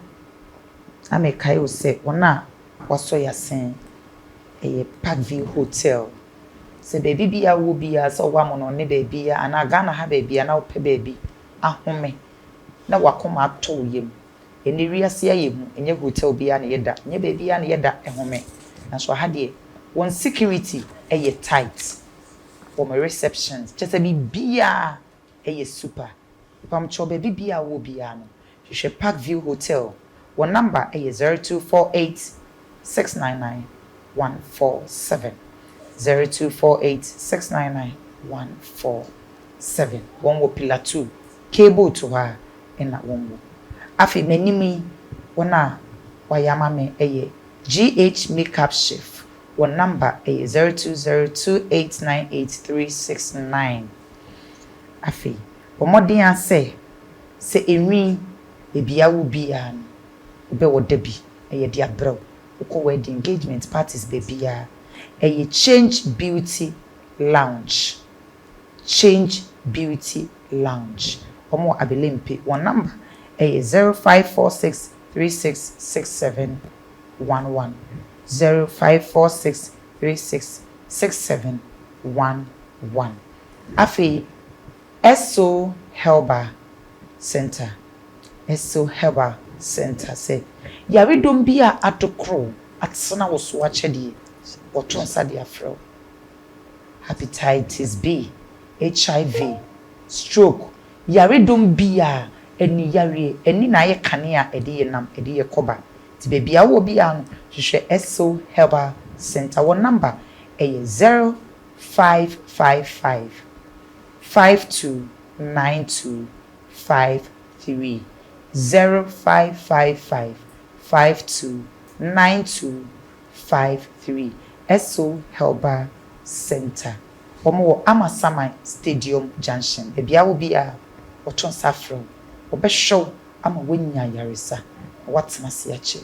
na mekae wo sɛ wɔn a wɔasɔ yɛ asen yɛ Park View Hotel. Sɛ baabi biara wowɔ biara, sɛ ɔwɔ Amono ne baabiara anaa Ghana ha baabiara na wopɛ baabi ahome na w'akoma atɔ wo yam. Ɛnnɛ wiase ayɛ hu, ɛnyɛ hotel biara na yɛda, ɛnyɛ baabiara na yɛda home. Nanso aha deɛ, wɔn security yɛ tight. wɔ me receptions kyerɛ sɛ biribiaa ɛyɛ super mpamkyɛw baabi biaa a wowɔ biaa no hwehwɛ park view hotel wɔn number ɛyɛ zero two four eight six nine nine one four seven zero two four eight six nine nine one four seven wɔn wɔ pillar two cable to hɔ a ɛna wɔn wɔ afei m'anim yi wɔn a wɔayɛ ama me ɛyɛ GH makeup chef Wo namba yɛ zero two zero two eight nine eight three six nine. Afei, bɔ mmɔden ara sɛ sɛ enwi baabi a wo bi ara no, wobɛ ɔda bi na yɛde abrɛ wo. Wokɔ w'adi, engagement, parties baabi ara, ɛyɛ Change Beauty Lounge. Change Beauty Lounge. Wɔn wɔ Abelempi. Wɔn namba yɛ zero five four six three six six seven. one one zero five four six three six six seven one one. Afei Esso Herbal Centre, Esso Herbal Centre sɛ yaredɔm bi a adokoro wo, atena wo so akyɛdeɛ, wɔto nsa de afrɛ wo. Hepatitis B, HIV, stroke, Yaredɔm biaa ɛnni yareɛ ɛnni na ayɛ kanea a ɛde yɛ nam ɛde yɛ kɔba nti baabi a wowɔ biaa no hwehwɛ Esil Herbal Center wɔn number ɛyɛ zero five five five five two nine two five three zero five five five five two nine two five three Esil Herbal Center. Wɔwɔ Amasaman Stadium Junction, baabi a obiara a ɔto nsa frɛ wo, wɔbɛhwɛ wo ama woanya ayaresa na woatena ase akyɛ.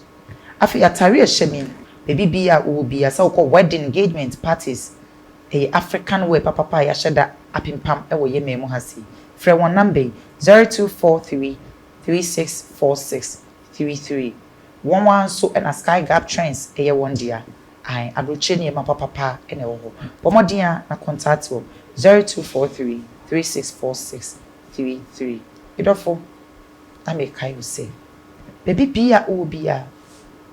Afei atare a ɛhyɛ me yi, baabi biara a wowɔ biara, sɛ wokɔ wedding, engagement, parties, ɛyɛ African wear papapa a yɛahyɛ da apempam wɔ yɛn man mu ha sei. Frɛ wɔn number yi, zero two four three three six four six three three. Wɔn ara nso na Sky Gap Trends yɛ wɔn dea. Ae, aburokyire nneɛma papapa na ɛwɔ hɔ. Bɔ mmɔden ara na kɔntaate wɔn, zero two four three three six four six three three. Me dɔfo, na merekae wo sɛ, baabi biara a wowɔ biara,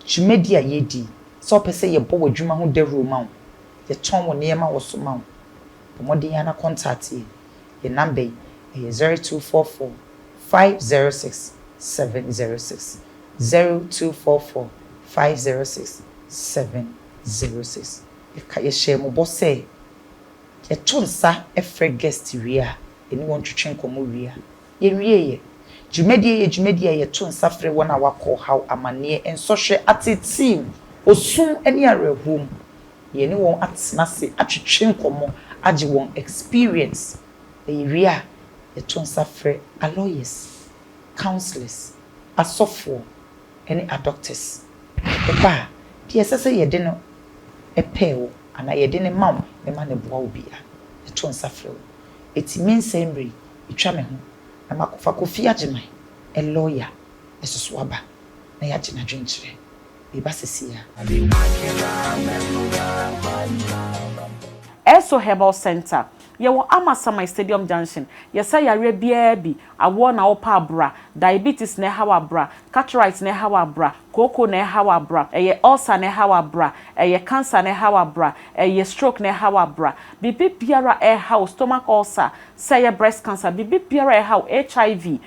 dwumadi a yɛredi, sɛ wopɛ sɛ yɛbɔ w'adwuma ho dawuro ma wo, yɛtɔn wo nneɛma wɔ so ma wo, Bɔ mmɔden ara na kɔntakte yɛn. Yɛn nɔmba yi, ɛyɛ zero two four four, five zero six, seven zero six, zero two four four, five zero six, seven zero six. Yɛka yɛhyɛɛ mo bɔ sɛ yɛto nsa frɛ guest wie a, yɛne wɔn twetwe nkɔmmɔ wie a, yɛnwieɛ. Dwumadie yi yɛ dwumadie a yɛto nsa frɛ wɔn a wɔakɔ ɔhaw, amanneɛ, nsɔhwɛ, ateetee mu, osu mu ne awerɛhoɔ mu. Yɛne wɔn atena ase atwetwe nkɔmmɔ agye wɔn experience na yɛwie a yɛto nsa frɛ a lawyers, counsellors, asɔfoɔ ne a doctors. Ɛba a, deɛ ɛsɛ sɛ yɛde no pɛɛ wo anaa yɛde no ma wo ne ma no boa wo biara yɛto nsa frɛ wo. Eti me nsɛe mmerɛ yi ɛtwa me ho na makɔfa Kofi Agyeman, a lawyer, ɛsoso aba na yɛagye n'adwenkyerɛ. Meba sesei a. Esso Herbal Centre, Yɛwɔ Amasaman Stadium Junction, Yɛsa yareɛ biara bi, awoɔ na wopɛ a bra, diabetes na ɛha wo a bra, cataract na ɛha wo a bra, kooko na ɛha wo a bra, ɛyɛ ulcer na ɛha wo a bra, ɛyɛ cancer na ɛha wo a bra, ɛyɛ stroke na ɛha wo a bra, biribi biara a ɛha wo, stomach ulcer, sɛ ɛyɛ breast cancer, biribi biara a ɛha wo, HIV,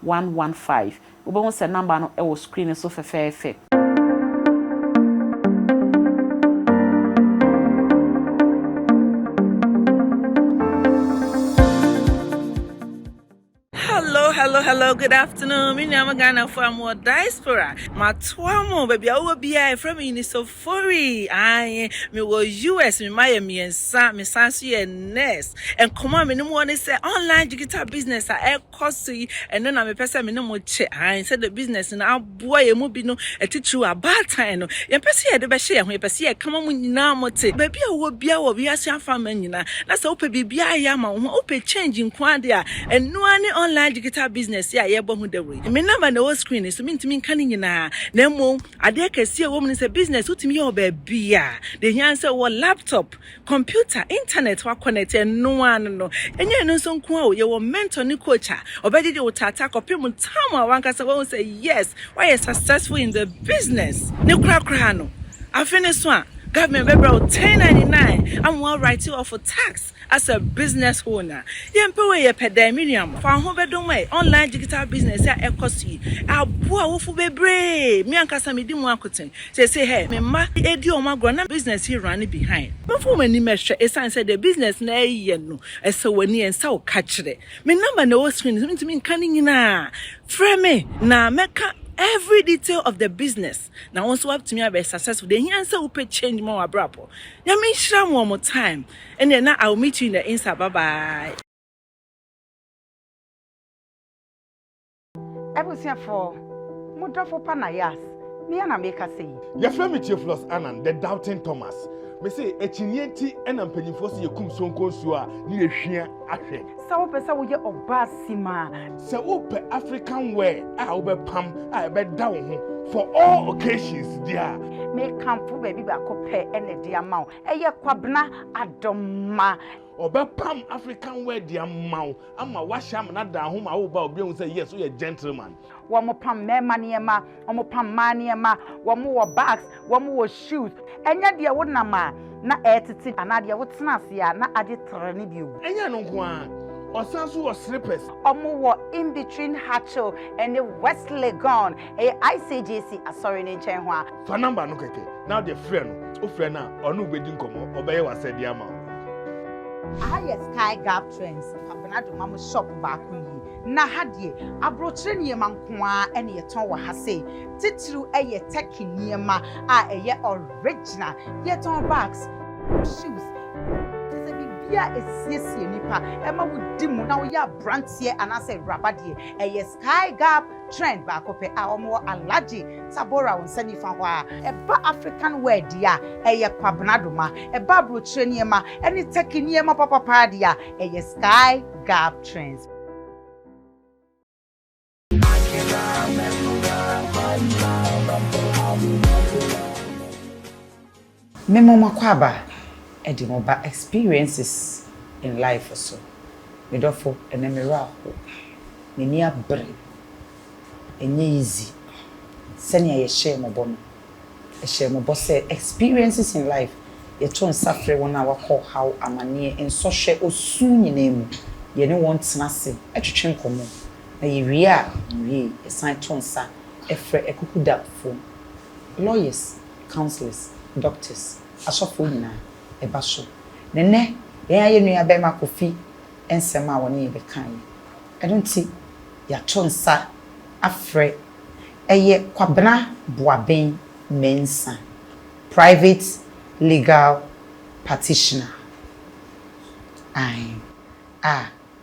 one one five. Wobɛhu sɛ number no wɔ screen no so fɛfɛɛfɛ. hello, hello, good afternoon. Me name Ghana for more diaspora. My twamo, baby, I will be a friend in so furry. I me was US, me my me and Sam, me Sansu and Ness. And come on, me no one is online digital business. I kɔ so yi, ɛno na mepɛ sɛ me ne mo kyɛ, ae, sɛdeɛ business no aboa yɛn mu binom, titiriw abaatan no. Yɛmpɛ sɛ yɛde bɛhyɛ yɛn ho, yɛpɛ sɛ yɛka ma mo nyinaa mote, baabi a wowɔ biara wɔ wiase afaman nyinaa, na sɛ wopɛ biribiara ayɛ ama wo ho a, wopɛ change nko ara deɛ a, ɛno ara ne online digital business yi a yɛrebɔ ho dawuro yi. Me number na ɛwɔ screen no so, mentumi nka ne nyinaa, na mmom adeɛ kɛseɛ a ɛwɔ mu ne sɛ, business wotumi yɛ wɔ baabiara, deɛ ɛhia ne sɛ wowɔ laptop, Computer, internet wa connect ɛno ara no no. Ɛnyɛ ɛno nso nko ara o, yɛwɔ mentor ne coach a ɔbɛgyegye wo taataa kɔpem time a wankasa wahu sɛ yes, woayɛ successful in the business. Ne korakoraa no, afe no so a, government bɛbrɛ wo 1099 ama wa write off tax as a business owner. Yɛmpɛ wei, yɛpɛ dɛn? Me nua mo, fa wo ho bɛdom ɛ, online digital business a ɛkɔ so yi, aboa awofo bebree. Me ankasa medi mu akoten. Sesei hɛ, me mma redi wɔn agorɔ na business yi running behind. Momfa wɔn anim nhwɛ, esiane sɛ deɛ business no reyɛ no, ɛsɛ wɔn ani, ɛnsɛ wo ka kyerɛ. Me number na ɛwɔ screen no so, mentumi nka ne nyinaa a, frɛ me na mɛka every detail of the business na wo nso woatumi abɛyɛ successful. Deɛ ɛhia ne sɛ wopɛ change ma w'abrabɔ. Nyame nhyira mo wɔ mo time. Ɛnneɛ na I will meet you in the Insta, bye bye. Abusuafoɔ, mo dɔfo pa na Yas, me ara na mekasa yi. Yɛfrɛ me Theophilus Annan, the doubting Thomas. Mese akyinnyeɛ nti na mpanyimfoɔ se yɛkum sonko nsuo a ne yɛ hwia ahwɛ. Sɛ wopɛ sɛ woyɛ ɔbaa simaa. Sɛ wopɛ African wear a wobɛpam a ɛbɛda wo ho for all occasions deɛ a. Mekamfo baabi baako pɛ na ɛde ama wo, ɛyɛ Kwabena Adomah. Ɔbɛpam African wear de ama wo. ama wahyɛ amena daa ho ma wo ba obi ehu sɛ yes woyɛ gentleman. Wɔn pam mmarima nneɛma, wɔn pam mmaa nneɛma, wɔn wɔ bags, wɔn wɔ shoes. Ɛnyɛ deɛ wo nam a na ɛretete anaa deɛ wo tena ase a na agye terɛ ne bi o. Ɛnyɛ ɛno nko ara, ɔsan nso wɔ slippers. Wɔn wɔ in between Hatchel ɛne West Legon, ɛyɛ ICGC asɔre no nkyɛn ho a. Fa number no kɛkɛ na wode frɛ no, wofrɛ no a ɔne wo bɛdi nkɔmmɔ, ɔbɛyɛ w'asɛdeɛ ama wo. Aha yɛ Sky Gap Trends Kwabena Domam shop baako nie. Na ha deɛ abrokyire nneɛma nko ara na yɛtɔn wɔ ha sei. Titiriw yɛ Turkey nneɛma a ɛyɛ original. Yɛtɔn bags, shoes, kyerɛ sɛ biribiara a ɛsiesie nipa, ɛma wodi mu na woyɛ abranteɛ anaasɛ awuraba deɛ, ɛyɛ Sky Gap Trend baako pɛ a wɔwɔ Alhaji Tabora wo nsa nifa hɔ a. Ɛba African wear deɛ a, ɛyɛ Kwabena Doma. Ɛba abrokyire nneɛma ɛne Turkey nneɛma papapaa deɛ a, ɛyɛ Sky Gab Trends. Me mo m'akwaaba ɛde mo ba experiences in life so me dɔfo ɛnɛ me werɛ ahow m'ani abere ɛnyɛ easy sɛnea yɛ hyɛɛ mo bɔ no yɛhyɛɛ mo bɔ sɛ experiences in life yɛto nsa frɛ wɔn a wakɔ ɔhaw amaneɛ nsɔhwɛ osu nyinaa mu yɛne wɔn tena ase twetwe nkɔmmɔ na yɛwie a yɛnwiee yɛsan to nsa frɛ akukudamfo lawyers councillors, doctors, asɔfoɔ nyinaa ɛba so. Na nnɛ yɛn a yɛ nua barima Kofi nsɛm a ɔne yɛ bɛkaeɛ yi, ɛno nti yɛato nsa afrɛ ɛyɛ Kwabena Boaben Mensah, private legal practitioner, ae, a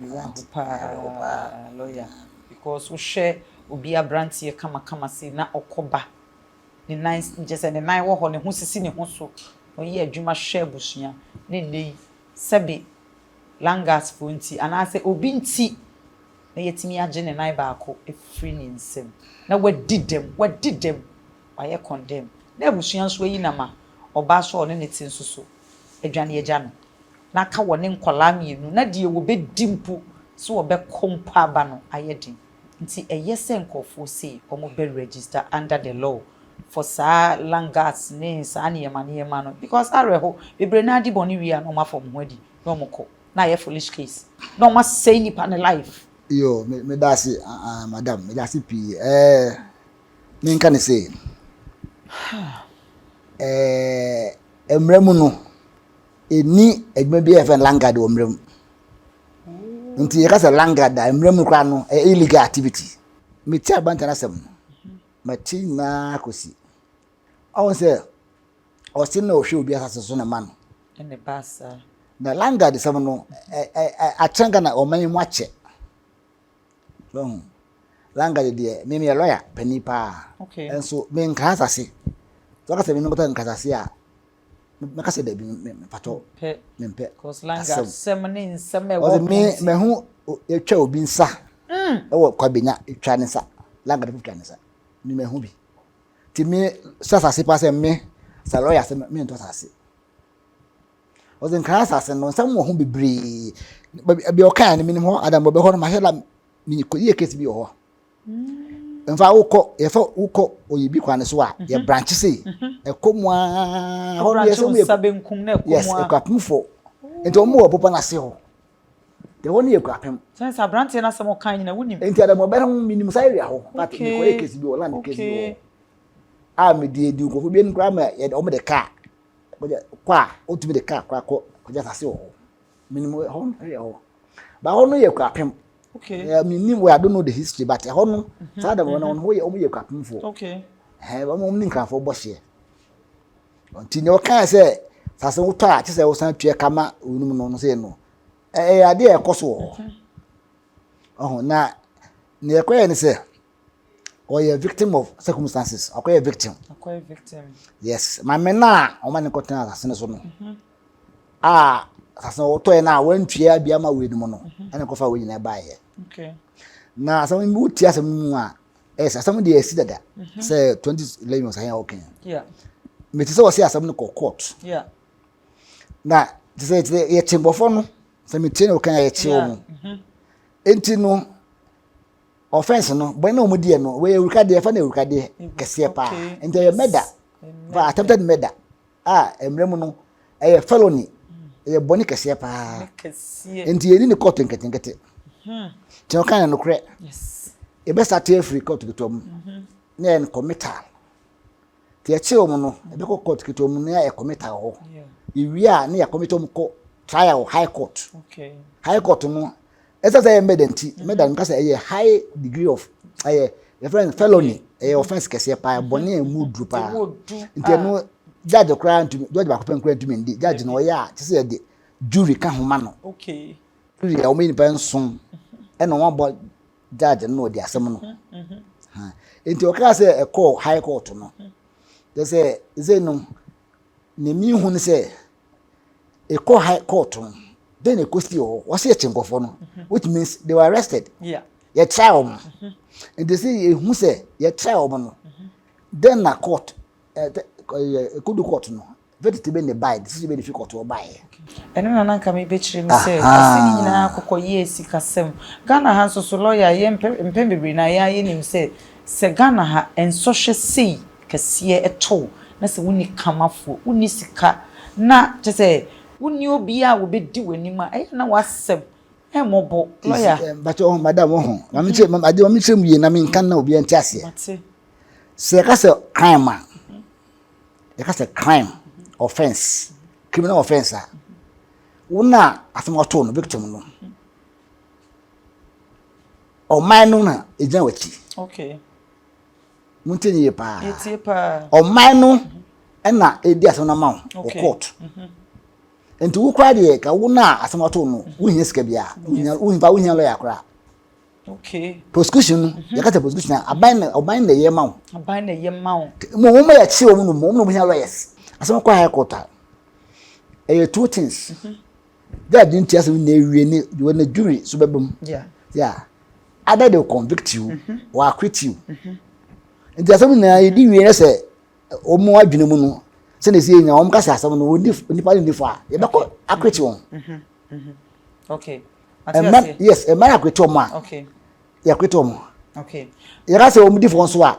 Meboa wo paa lawyer because wohwɛ obi abranteɛ kamakama sei na ɔkɔ ba ne nan kyerɛ sɛ ne nan wɔ hɔ ne ho sisi ne ho so na ɔyɛ adwuma hwɛ abusua na ɛnnɛ yi sɛbe langas foɔ nti anaa sɛ obi nti na yɛatumi agye ne nan baako afiri ne nsam na wadi dɛm wadi dɛm wayɛ condemn na abusua nso ayi no ama ɔbaa so a ɔne ne te nso so adwane agya no. na aka wɔne nkwadaa mmienu na deɛ wɔbɛdi mpo sɛ wɔbɛkɔ mpo aba no ayɛ den nti ɛyɛ sɛ nkorɔfoɔ sei wɔbɛ register under the law for saa langas ne saa nneɛma nneɛma no because awerɛho bebree no ara di bɔne wie a na wɔn afa wɔn ho adi na wɔn kɔ na ayɛ foolish case na wɔn asɛe nipa ne life. Yo me meda ase aah madam meda ase pii ɛɛ me nka ne sei ɛɛ mmara mu no. ɛnni adwuma bi a yɛfrɛ no langard wɔ mmara mu nti yɛka sɛ langard a mmara mu koraa no ɛyɛ illegal activity mete abanta no asɛm no mate nyinaa kɔsi ɔhu sɛ ɔse na ɔhwɛ obi asase so na ma no na langard sɛm no akyɛn ka na ɔma yi mu akyɛ ɔhu langard deɛ memeyɛ lɔya pani paa nso menka asase sɛ ɔka sɛ menkɔtɔ nkasase a Mɛka sɛ dabi mpatɔ mempɛ. Cause language sɛm ne nsɛm ɛwɔ pɔn. Me mɛho yɛtwa obi nsa ɛwɔ kwabenya twa ne nsa language fo twa ne nsa me mɛho bi ti me sɛ asase pa sɛ me sɛ lɔya sɛ me ntɔ asase ɔdze nkran asase no nsɛm wɔ ho bebree baabi ɔkaa no menim hɔ adam bɔbɛ hɔ no mahwɛ la meyɛ kɔyɛ case bi wɔ hɔ mfa wokɔ yɛfɛ wokɔ oyibi kwan no so a mhm. yɛ branche sei mhm. ɛkɔ mu a hɔ no yɛsɛ mu yɛ yes ɛkɔ apem fo nti wɔn mu wɔ bɔbɔ n'ase hɔ deɛ hɔ no yɛ kɔ apem. sɛn sɛ aberanteɛ no asɛm ɔka nyina wonim. nti adamu ɔbɛn ho minim saa area hɔ but mekɔ yɛ kesi bi wɔ land kesi bi wɔ a mede edi nkurɔfoɔ bi anim koraa ma wɔn de kaa kɔ a wɔtumi de kaa koraa kɔ kɔgya asase wɔ hɔ. menim ɛhɔ no yɛ hɔ ba hɔ no yɛ kwapem okay uh, menim well i don't know the history but ɛhɔ no mhm, saa dɛm hɔ no mhm. wɔn yɛ wɔn yɛ kwapemfoɔ okay ɛɛ wɔn wɔn ne nkrafoɔ bɔ hyɛ nti nea ɔkaa sɛ sase wotɔ a kyesɛ wosan tua kama onum no no sɛ no ɛyɛ adeɛ ɛkɔ so wɔ hɔ mhm. ɔho na nea ɛkɔ yɛ ne sɛ. ɔyɛ victim of circumstances ɔkɔyɛ victim ɔkɔyɛ victim yes maame no a ɔma ne kɔtena asase no so no mhm. a asase no wɔtɔɛ no a wantua bi ama wei no mu no mhm. ɛna kɔfa wei nyinaa baeɛ na asɛm no wotie asɛm no mu a ɛsɛ asɛm deɛ ɛsi dada mhm. sɛ 2011 ɔsahɛ a wɔkɛn mete sɛ wɔse asɛm no kɔ court na te sɛ yɛkye mbɔfoɔ no sɛ metie ne wɔkɛn a yɛkye wɔ mu enti no Offense no, bɔne na wɔn di yɛ no, wɔyɛ awurikadeɛ, ɛfa na awurikadeɛ mm-hmm. kɛseɛ paa. Okay. Nti ɛyɛ murder, for attempted murder, a mmerɛ mu no, ɛyɛ felony, mm. ɛyɛ bɔne kɛseɛ paa. Nti yɛni ne kɔɔto nketenkete. Hmm. Nti ɔka yɛ nokorɛ. Yɛbɛsa te afiri kɔɔto ketewa mu, mm-hmm. na yɛ committal. Nti yɛkye wɔn no, ɛbɛkɔ mm. kɔɔto ketewa mu, na yɛ committal hɔ. Yɛwie a, na yɛ committal mu kɔ trial high court. High court no, ɛsɛ sɛ ɛyɛ murder nti murder no kasa ɛyɛ high degree of ɛyɛ yɛfrɛ no felony ɛyɛ offence kɛseɛ paa bɔne a ɛmu duru paa nti ɛno ah. judge koraa ntumi judge baako pɛ nkura ntumi ndi judge na ɔyɛ a kyɛ sɛ yɛde jury ka ho ma no jury a wɔn nipa nson ɛna wɔn abɔ judge no na ɔdi asɛm no nti ɔkaa sɛ ɛkɔɔ high court no kyɛ sɛ ɛsɛ no ne mi hu no sɛ ɛkɔ high court no then ɛkɔ si hɔ wɔsi ɛkyi nkɔfoɔ no mhm. which means they were arrested yɛ try wɔn mhm. nti si ehu sɛ yɛ try wɔn no mhm. then na court ɛ eh, ɛ eh, ɛkodu court no verdict bɛ ne buy decision bɛ ne fi court wɔ buy yɛ. ɛno na nanka mi bɛ kyerɛ mi sɛ ɔsi ni nyinaa akokɔ yie esi kasɛm ghana ha nso so lɔya yɛ mpɛ mpɛ bebree na yɛ ayɛ nim sɛ sɛ ghana ha nsɔhwɛ sei. kɛseɛ to wo na sɛ wonni kamafoɔ, wonni sika na kyerɛ sɛ wonni obiara a wɔbɛdi w'anim a, ɛyɛ na w'asɛm mmɔbɔ. Lɔya. Mpakyɛ ɔho madam ɔho na me kyerɛ ade ma me kyerɛ mu yie na menka na obiara nte aseɛ. Sɛ yɛka sɛ crime a yɛka sɛ crime offence criminal offence a wo na asɛm ɔtoo no victim no ɔman no na ɛgyina w'akyi. Okay. Montie no yie paa. Yɛtie paa. Ɔman no ɛna ɛdi asɛm no ama wo wɔ Okay. court. Mhm. Nti wo koraa deɛ ka wo no a asɛm ato no wohia sika biara. Wohia- Wohia wohia lawyer koraa. Okay. Prosecution no yɛka sɛ prosecution a aban na ɔban na ɛyɛ ma wo. Aban na ɛyɛ ma wo. Nti mo wɔn a yɛkye wɔn no mo wɔn na wɔhia lawyers. Asɛm kɔ high court a ɛyɛ two things. Dɛ adze ntsi asɛm nyina ewie no dze hɔ no jury so bɛba mu. Yeah. Either they will convict you mhm. or acquit you. Mhm. Nti asɛm nyinaa yɛdi mhm. wie sɛ wɔn adwene mu no sɛdeɛ ɛsi yɛnya wɔn kasa asɛm no nipa no nni fo a yɛbɛkɔ acquit wɔn. Ɛmma yes ɛmma no acquit wɔn a yɛacquit wɔn. Yɛka sɛ wɔn di fo nso a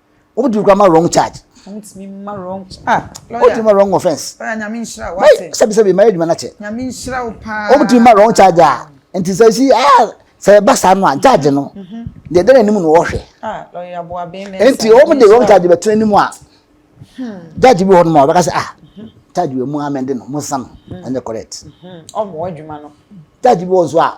o tumi kura ma wrong charge. o tumi ma wrong charge. Ah, lawyer. o tumi ma wrong offence. lawyer nyame nhyira o ate. sɛbi sɛbi mayɛ adwuma na kyɛ. nyame nhyira o paa. o tumi ma wrong charge a nti sɛ si ah sɛ ɛba saa no a charge no deɛ ɛda n'anim no wɔhwɛ. ah lawyer aboa bɛn mɛ. nti wɔn de wrong charge bɛtena anim a judge bi wɔ hɔ nom a ɔbɛka sɛ ah charge wɔ mu amɛnde no mo nsa no ɛnyɛ correct. ɔmo adwuma no. charge bi wɔ nso a.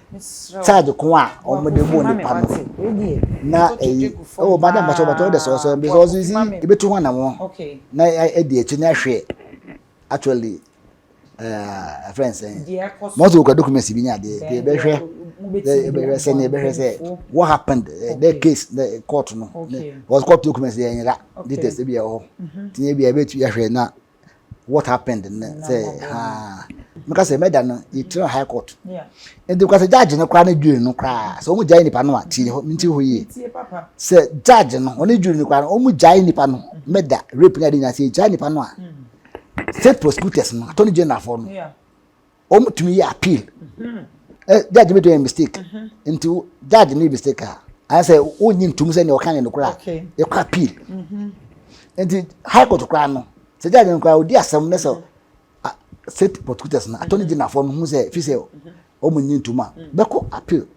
charge ko a wɔn de bɔ nipa no na ɛyi ɛwɔ ba dɛ mbɔtɔ bɔtɔ ɛdɛ sɔsɔ ɛbi sɔsɔ yi si ebi to ho anam ho na ɛdi akyi na ɛhwɛ actually ɛɛ ɛfɛn sɛn mɔtò okura dokumɛnsi bi nya adeɛ ɛdi ɛbɛhwɛ ɛbɛhwɛ sɛ ne ɛbɛhwɛ sɛ what happened ɛdɛ case ɛdɛ court no wɔsi court dokumɛnsi yɛ nyira details ɛbi ɛwɔ hɔ tiɲɛ bi ɛbɛ tu yɛhwɛ na. what happened nnɛ sɛ haa meka sɛ mɛda no yɛtiri high court nti kora sɛ judge no koraa ne jury no koraa sɛ ɔmu gyae nipa no a tie hɔ menti hɔ yie sɛ judge no ɔne jury no koraa no ɔmu gyae nipa no mɛda rape ne ade nyinaa sɛ yɛgyae nipa no a state prosecutors no attorney general foɔ no wɔn tumi yɛ appeal ɛ judge mi to yɛ mistake nti judge ne mistake a anasɛ wonyi ntum sɛ nea ɔka yɛ no kora yɛkɔ appeal nti high court koraa no sɛ judge no koraa odi asɛm ne sɛ state prosecutors no attorney general fo no ho sɛ fi sɛ wɔn nyi ntum a bɛkɔ appeal.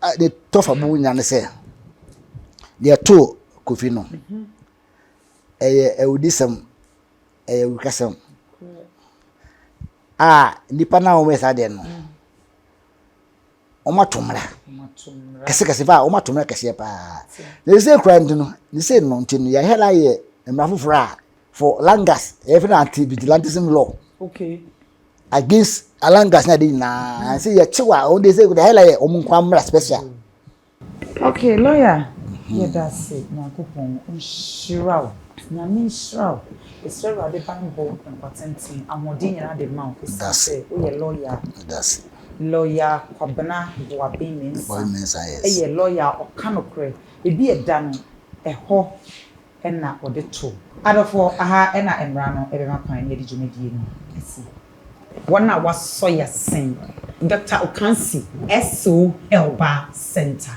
a ne tɔfa mu nya ne sɛ deɛ ɛtoo kofi no ɛyɛ awudisɛm ɛyɛ awukasɛm a nipa no a wɔyɛ saa deɛ no wɔato mmara kɛsekɛse paa wɔato mmara kɛseɛ paa na ɛsɛ kura nti no ne sɛ no nti no yɛhɛ la yɛ mmara foforɔ a for langas yɛfɛ no anti vigilantism law okay against alangas ne ade nyinaa nse yɛkyew a wɔn de sɛ wɔde hela yɛ wɔn nkwa mmra special. okay lawyer mhm. yɛda ase nyankopɔn nhyira wo nyame nhyira wo ɛsrɛ awurade banbɔ nkwatenten ahoɔden nyinaa de ma wo ɛsiane sɛ woyɛ lawyer lawyer kwabena boaben mensa ɛyɛ lawyer ɔka nokorɛ ebi ɛda no ɛhɔ na wɔde to. Adɔfoɔ, aha na mmara no bɛma kwan na yɛde dwumadie no asi. Wɔn a wɔasɔ yɛ sen. Dɔkta Okansi, SO Herbal Centre,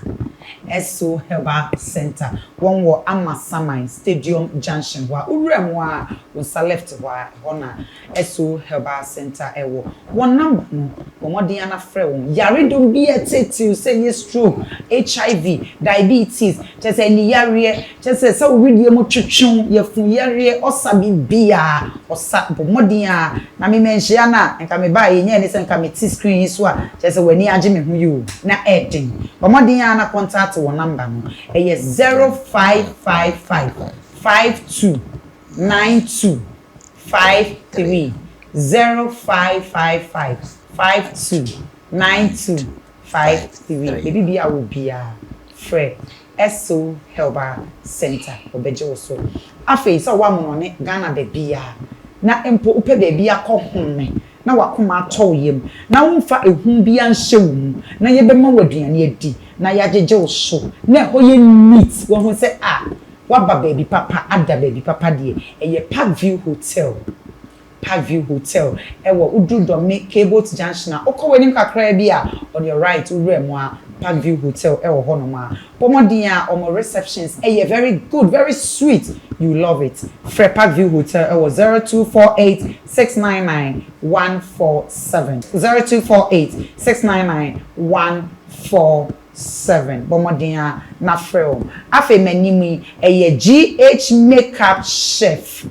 SO Herbal Centre, wɔn wɔ Amasaman, Stadium Junction hɔ a, wo wura mu ara, wo nsa left hɔ a, ɛhɔ na. Esso Herbal Centre ɛwɔ wɔn number no bɔ mmɔden ara frɛ wɔn. Yaredɔm bi a ɛteetee sɛ ɛyɛ stroke, HIV, diabetes, kyerɛ sɛ aniyareɛ, kyerɛ sɛ sɛ wo wedeɛ mu twetwe wo, yafunu yareɛ, ɔsa biribiara ɔsa bɔ mmɔden ara na me manhyia no a nka me baeɛ nyɛɛ ne sɛ nka me te screen yi so a kyerɛ sɛ w'ani agye me ho yi o na ɛɛden. Bɔ mmɔden ara na kɔntaate wɔn number no ɛyɛ zero five five five five two nine two. 530555529253 ebi bia wo bia frɛ Esso herbal center wɔbɛgye wo so afei sɛ wɔ amona ne Ghana bɛbia na mpo wopɛ bɛbi akɔ home. na w'akoma atɔ wo yam, na womfa ehu biara nhyɛ wo mu, na yɛbɛma wo aduane adi, na yɛagyegye wo so, na ɛhɔ yɛ neat, woahu sɛ ah, woaba baabi papa, ada baabi papa deɛ, ɛyɛ Park View Hotel, Park View Hotel, ɛwɔ, woduru Dɔme K-Boat Junction a, wokɔ w'anim kakraa bi a, on your right, wowura mu a, Park View Hotel wɔ hɔnom a, bɔ mmɔden a, wɔn receptions yɛ very good, very sweet, you will love it, frɛ Park View Hotel wɔ zero two four eight six nine nine one four seven zero two four eight six nine nine one four seven bɔ mmɔden ara na frɛ wɔn. Afei m'anim yi ɛyɛ GH makeup chef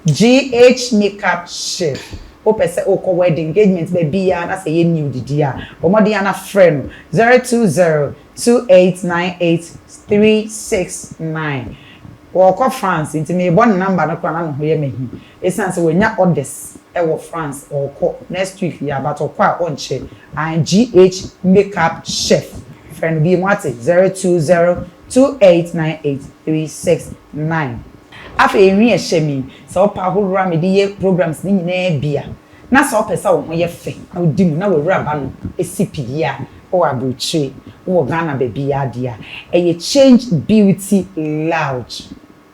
GH makeup chef wopɛ sɛ wokɔ wedding engagement baabiara na sɛ ɛyɛ nude deɛ a bɔ mmɔden ara na frɛ no zero two zero two eight nine eight three six nine ɔrekɔ France nti merebɔ ne number no koraa na ne ho yɛ me ahi. Esiane sɛ wanya orders wɔ France ɔɔkɔ next week yeah but ɔkɔ a ɔnkyɛ and GH makeup chef frɛ no biom wate zero two zero two eight nine eight three six nine. Afei nhwi a ɛhyɛ me yi sɛ wopɛ ahorow a mede yɛ programs no nyinaa bi a na sɛ wopɛ sɛ wo ho yɛ fɛ na wodi mu na w'awuraba no si pi yie a wowɔ abrokyire wowɔ Ghana baabiara deɛ a ɛyɛ Change Beauty Lounge.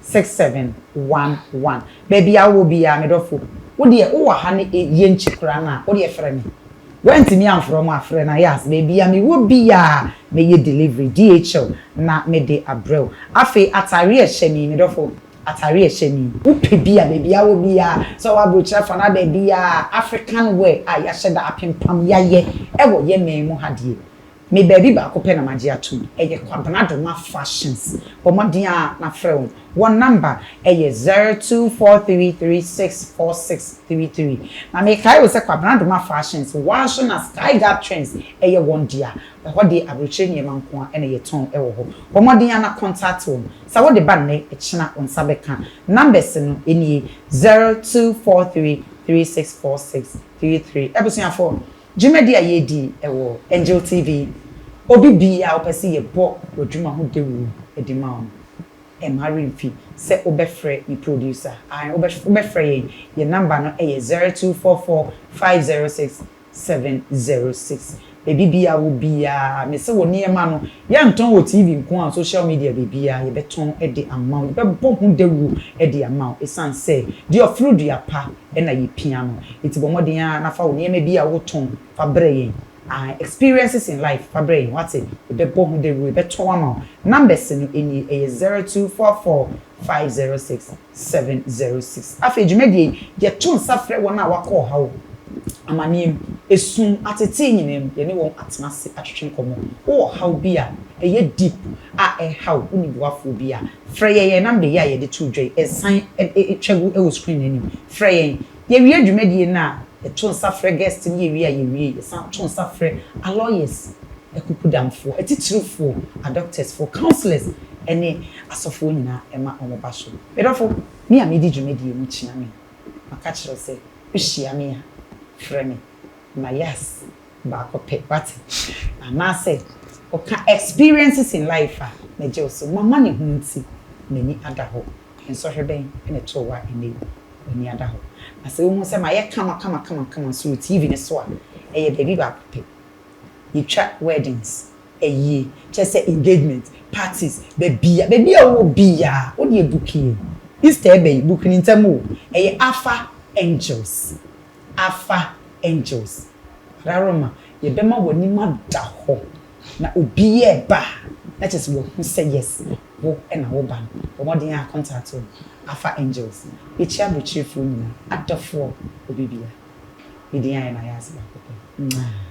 six seven one one. Baabi a wowɔ biara me dɔfo, wo deɛ wowɔ ha ne Yɛnkyi koraa no a, wo deɛ frɛ me. Woantumi amfrɛ wɔn a, frɛ no Ayaz. Baabi a mewɔ biara mɛyɛ delivery, DHL, na mede abrɛ wo. Afei atadeɛ a ɛhyɛ me yi, me dɔfo, atadeɛ a ɛhyɛ me yi, wopɛ bi a, baabi a wowɔ biara, sɛ wowɔ aburokyire afa anaa baabiara, African wear a yɛahyɛ da apempam, yɛayɛ wɔ yɛn man mu ha deɛ, Me baabi baako pɛ na magye atom, ɛyɛ Kwabena Doma Fashions. Bɔ mmɔden ara na frɛ wɔn. Wɔn nɔmba yɛ zero two four three three six four six three three. Na mekae o sɛ Kwabena Doma Fashions, wɔaso na Sky Gap Trends yɛ wɔn dea. Ɛhɔ deɛ aburokyire nneɛma nko ara na yɛtɔn wɔ hɔ. Bɔ mmɔden ara na contact wɔn. Sɛ wode ba nnɛ, ɛkyena wo nsa bɛka. Numbers no nie, zero two four three three six four six three three. Abusuafoɔ, Dwumadi a yɛredi wɔ Angel TV Obi biaa wopɛ sɛ yɛbɔ wadwuma ho dawuro de ma wo no mma remfi sɛ wobɛfrɛ me producer ae wobɛfrɛ yɛn yɛn number no yɛ zero two four four five zero six seven zero six baabi biaa wo biaa mese wo nneɛma no Yɛntɔn wɔ TV nko a, social media baabiara yɛbɛtɔn de ama wo, yɛbɛbɔ ho dawuro de ama wo ɛsiane sɛ deɛ ɔforo dua pa na yɛpia no. Nti bɔ mmɔden ara na fa wo nneɛma bi a wotɔn fa brɛ yɛn, ae, experiences in life fa brɛ yɛn, wate, yɛbɛbɔ ho dawuro, yɛbɛtɔn ama wo. Numbers no nie, ɛyɛ zero two four four five zero six 706. Afei dwumadie yi, yɛto nsa frɛ wɔn a wɔakɔ ɔhaw, amaneɛ mu, esum, atetee nyinaa mu, yɛne wɔn atena ase atwetwe nkɔmmɔ. Wowɔ ɔhaw bi a ɛyɛ deep a ɛrehaw wo ne boafoɔ bi a, frɛ yɛn, yɛn number yi a yɛde too dwa yi, ɛsan twa gu wɔ screen no anim, frɛ yɛn. Yɛwie dwumadie no a, yɛto nsa frɛ guest no, yɛwie a yɛwie, yɛsan to nsa frɛ a lawyers, akukudamfoɔ, atitirifoɔ, a doctorsfoɔ, councillors ne asɔfoɔ nyinaa ma wɔn ba so. Me dɔfo, me a medi dwumadie no kyena me, maka kyerɛ wo sɛ wohyia me a, frɛ me, ma yas baako pɛ, wate? Anaasɛ woka experiences in life a, mɛgye wo so, mama ne ho nti, m'ani ada hɔ. Nsɔhwɛ bɛn na ɛtoo wo a ɛnnɛ yi w'ani ada hɔ? Na sɛ wuhu sɛ mayɛ kama kama kama kama nso wɔ TV no so a, ɛyɛ baabi baako pɛ. Yetwa weddings, ayie, kyerɛ sɛ engagement, parties, baabiara, baabi a wowɔ biara, wo deɛ buki o, Easter ɛba yi, buki no ntɛm o, ɛyɛ Alpha Angels, Alpha Angels. Brother Roma, yɛbɛma w'anim ada hɔ Na obiaa ɛba a na kyerɛ sɛ wahu sɛ yes wo na wo ba no. Bɔ mmɔden ara contact o Alpha Angels yɛkyia abrokyirefɔɔ nyinaa adɔfoɔ obi bia ne din ayɛ na ayɛ ase baako pɛ mwaa.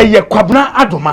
Ɛyɛ Kwabena Adoma.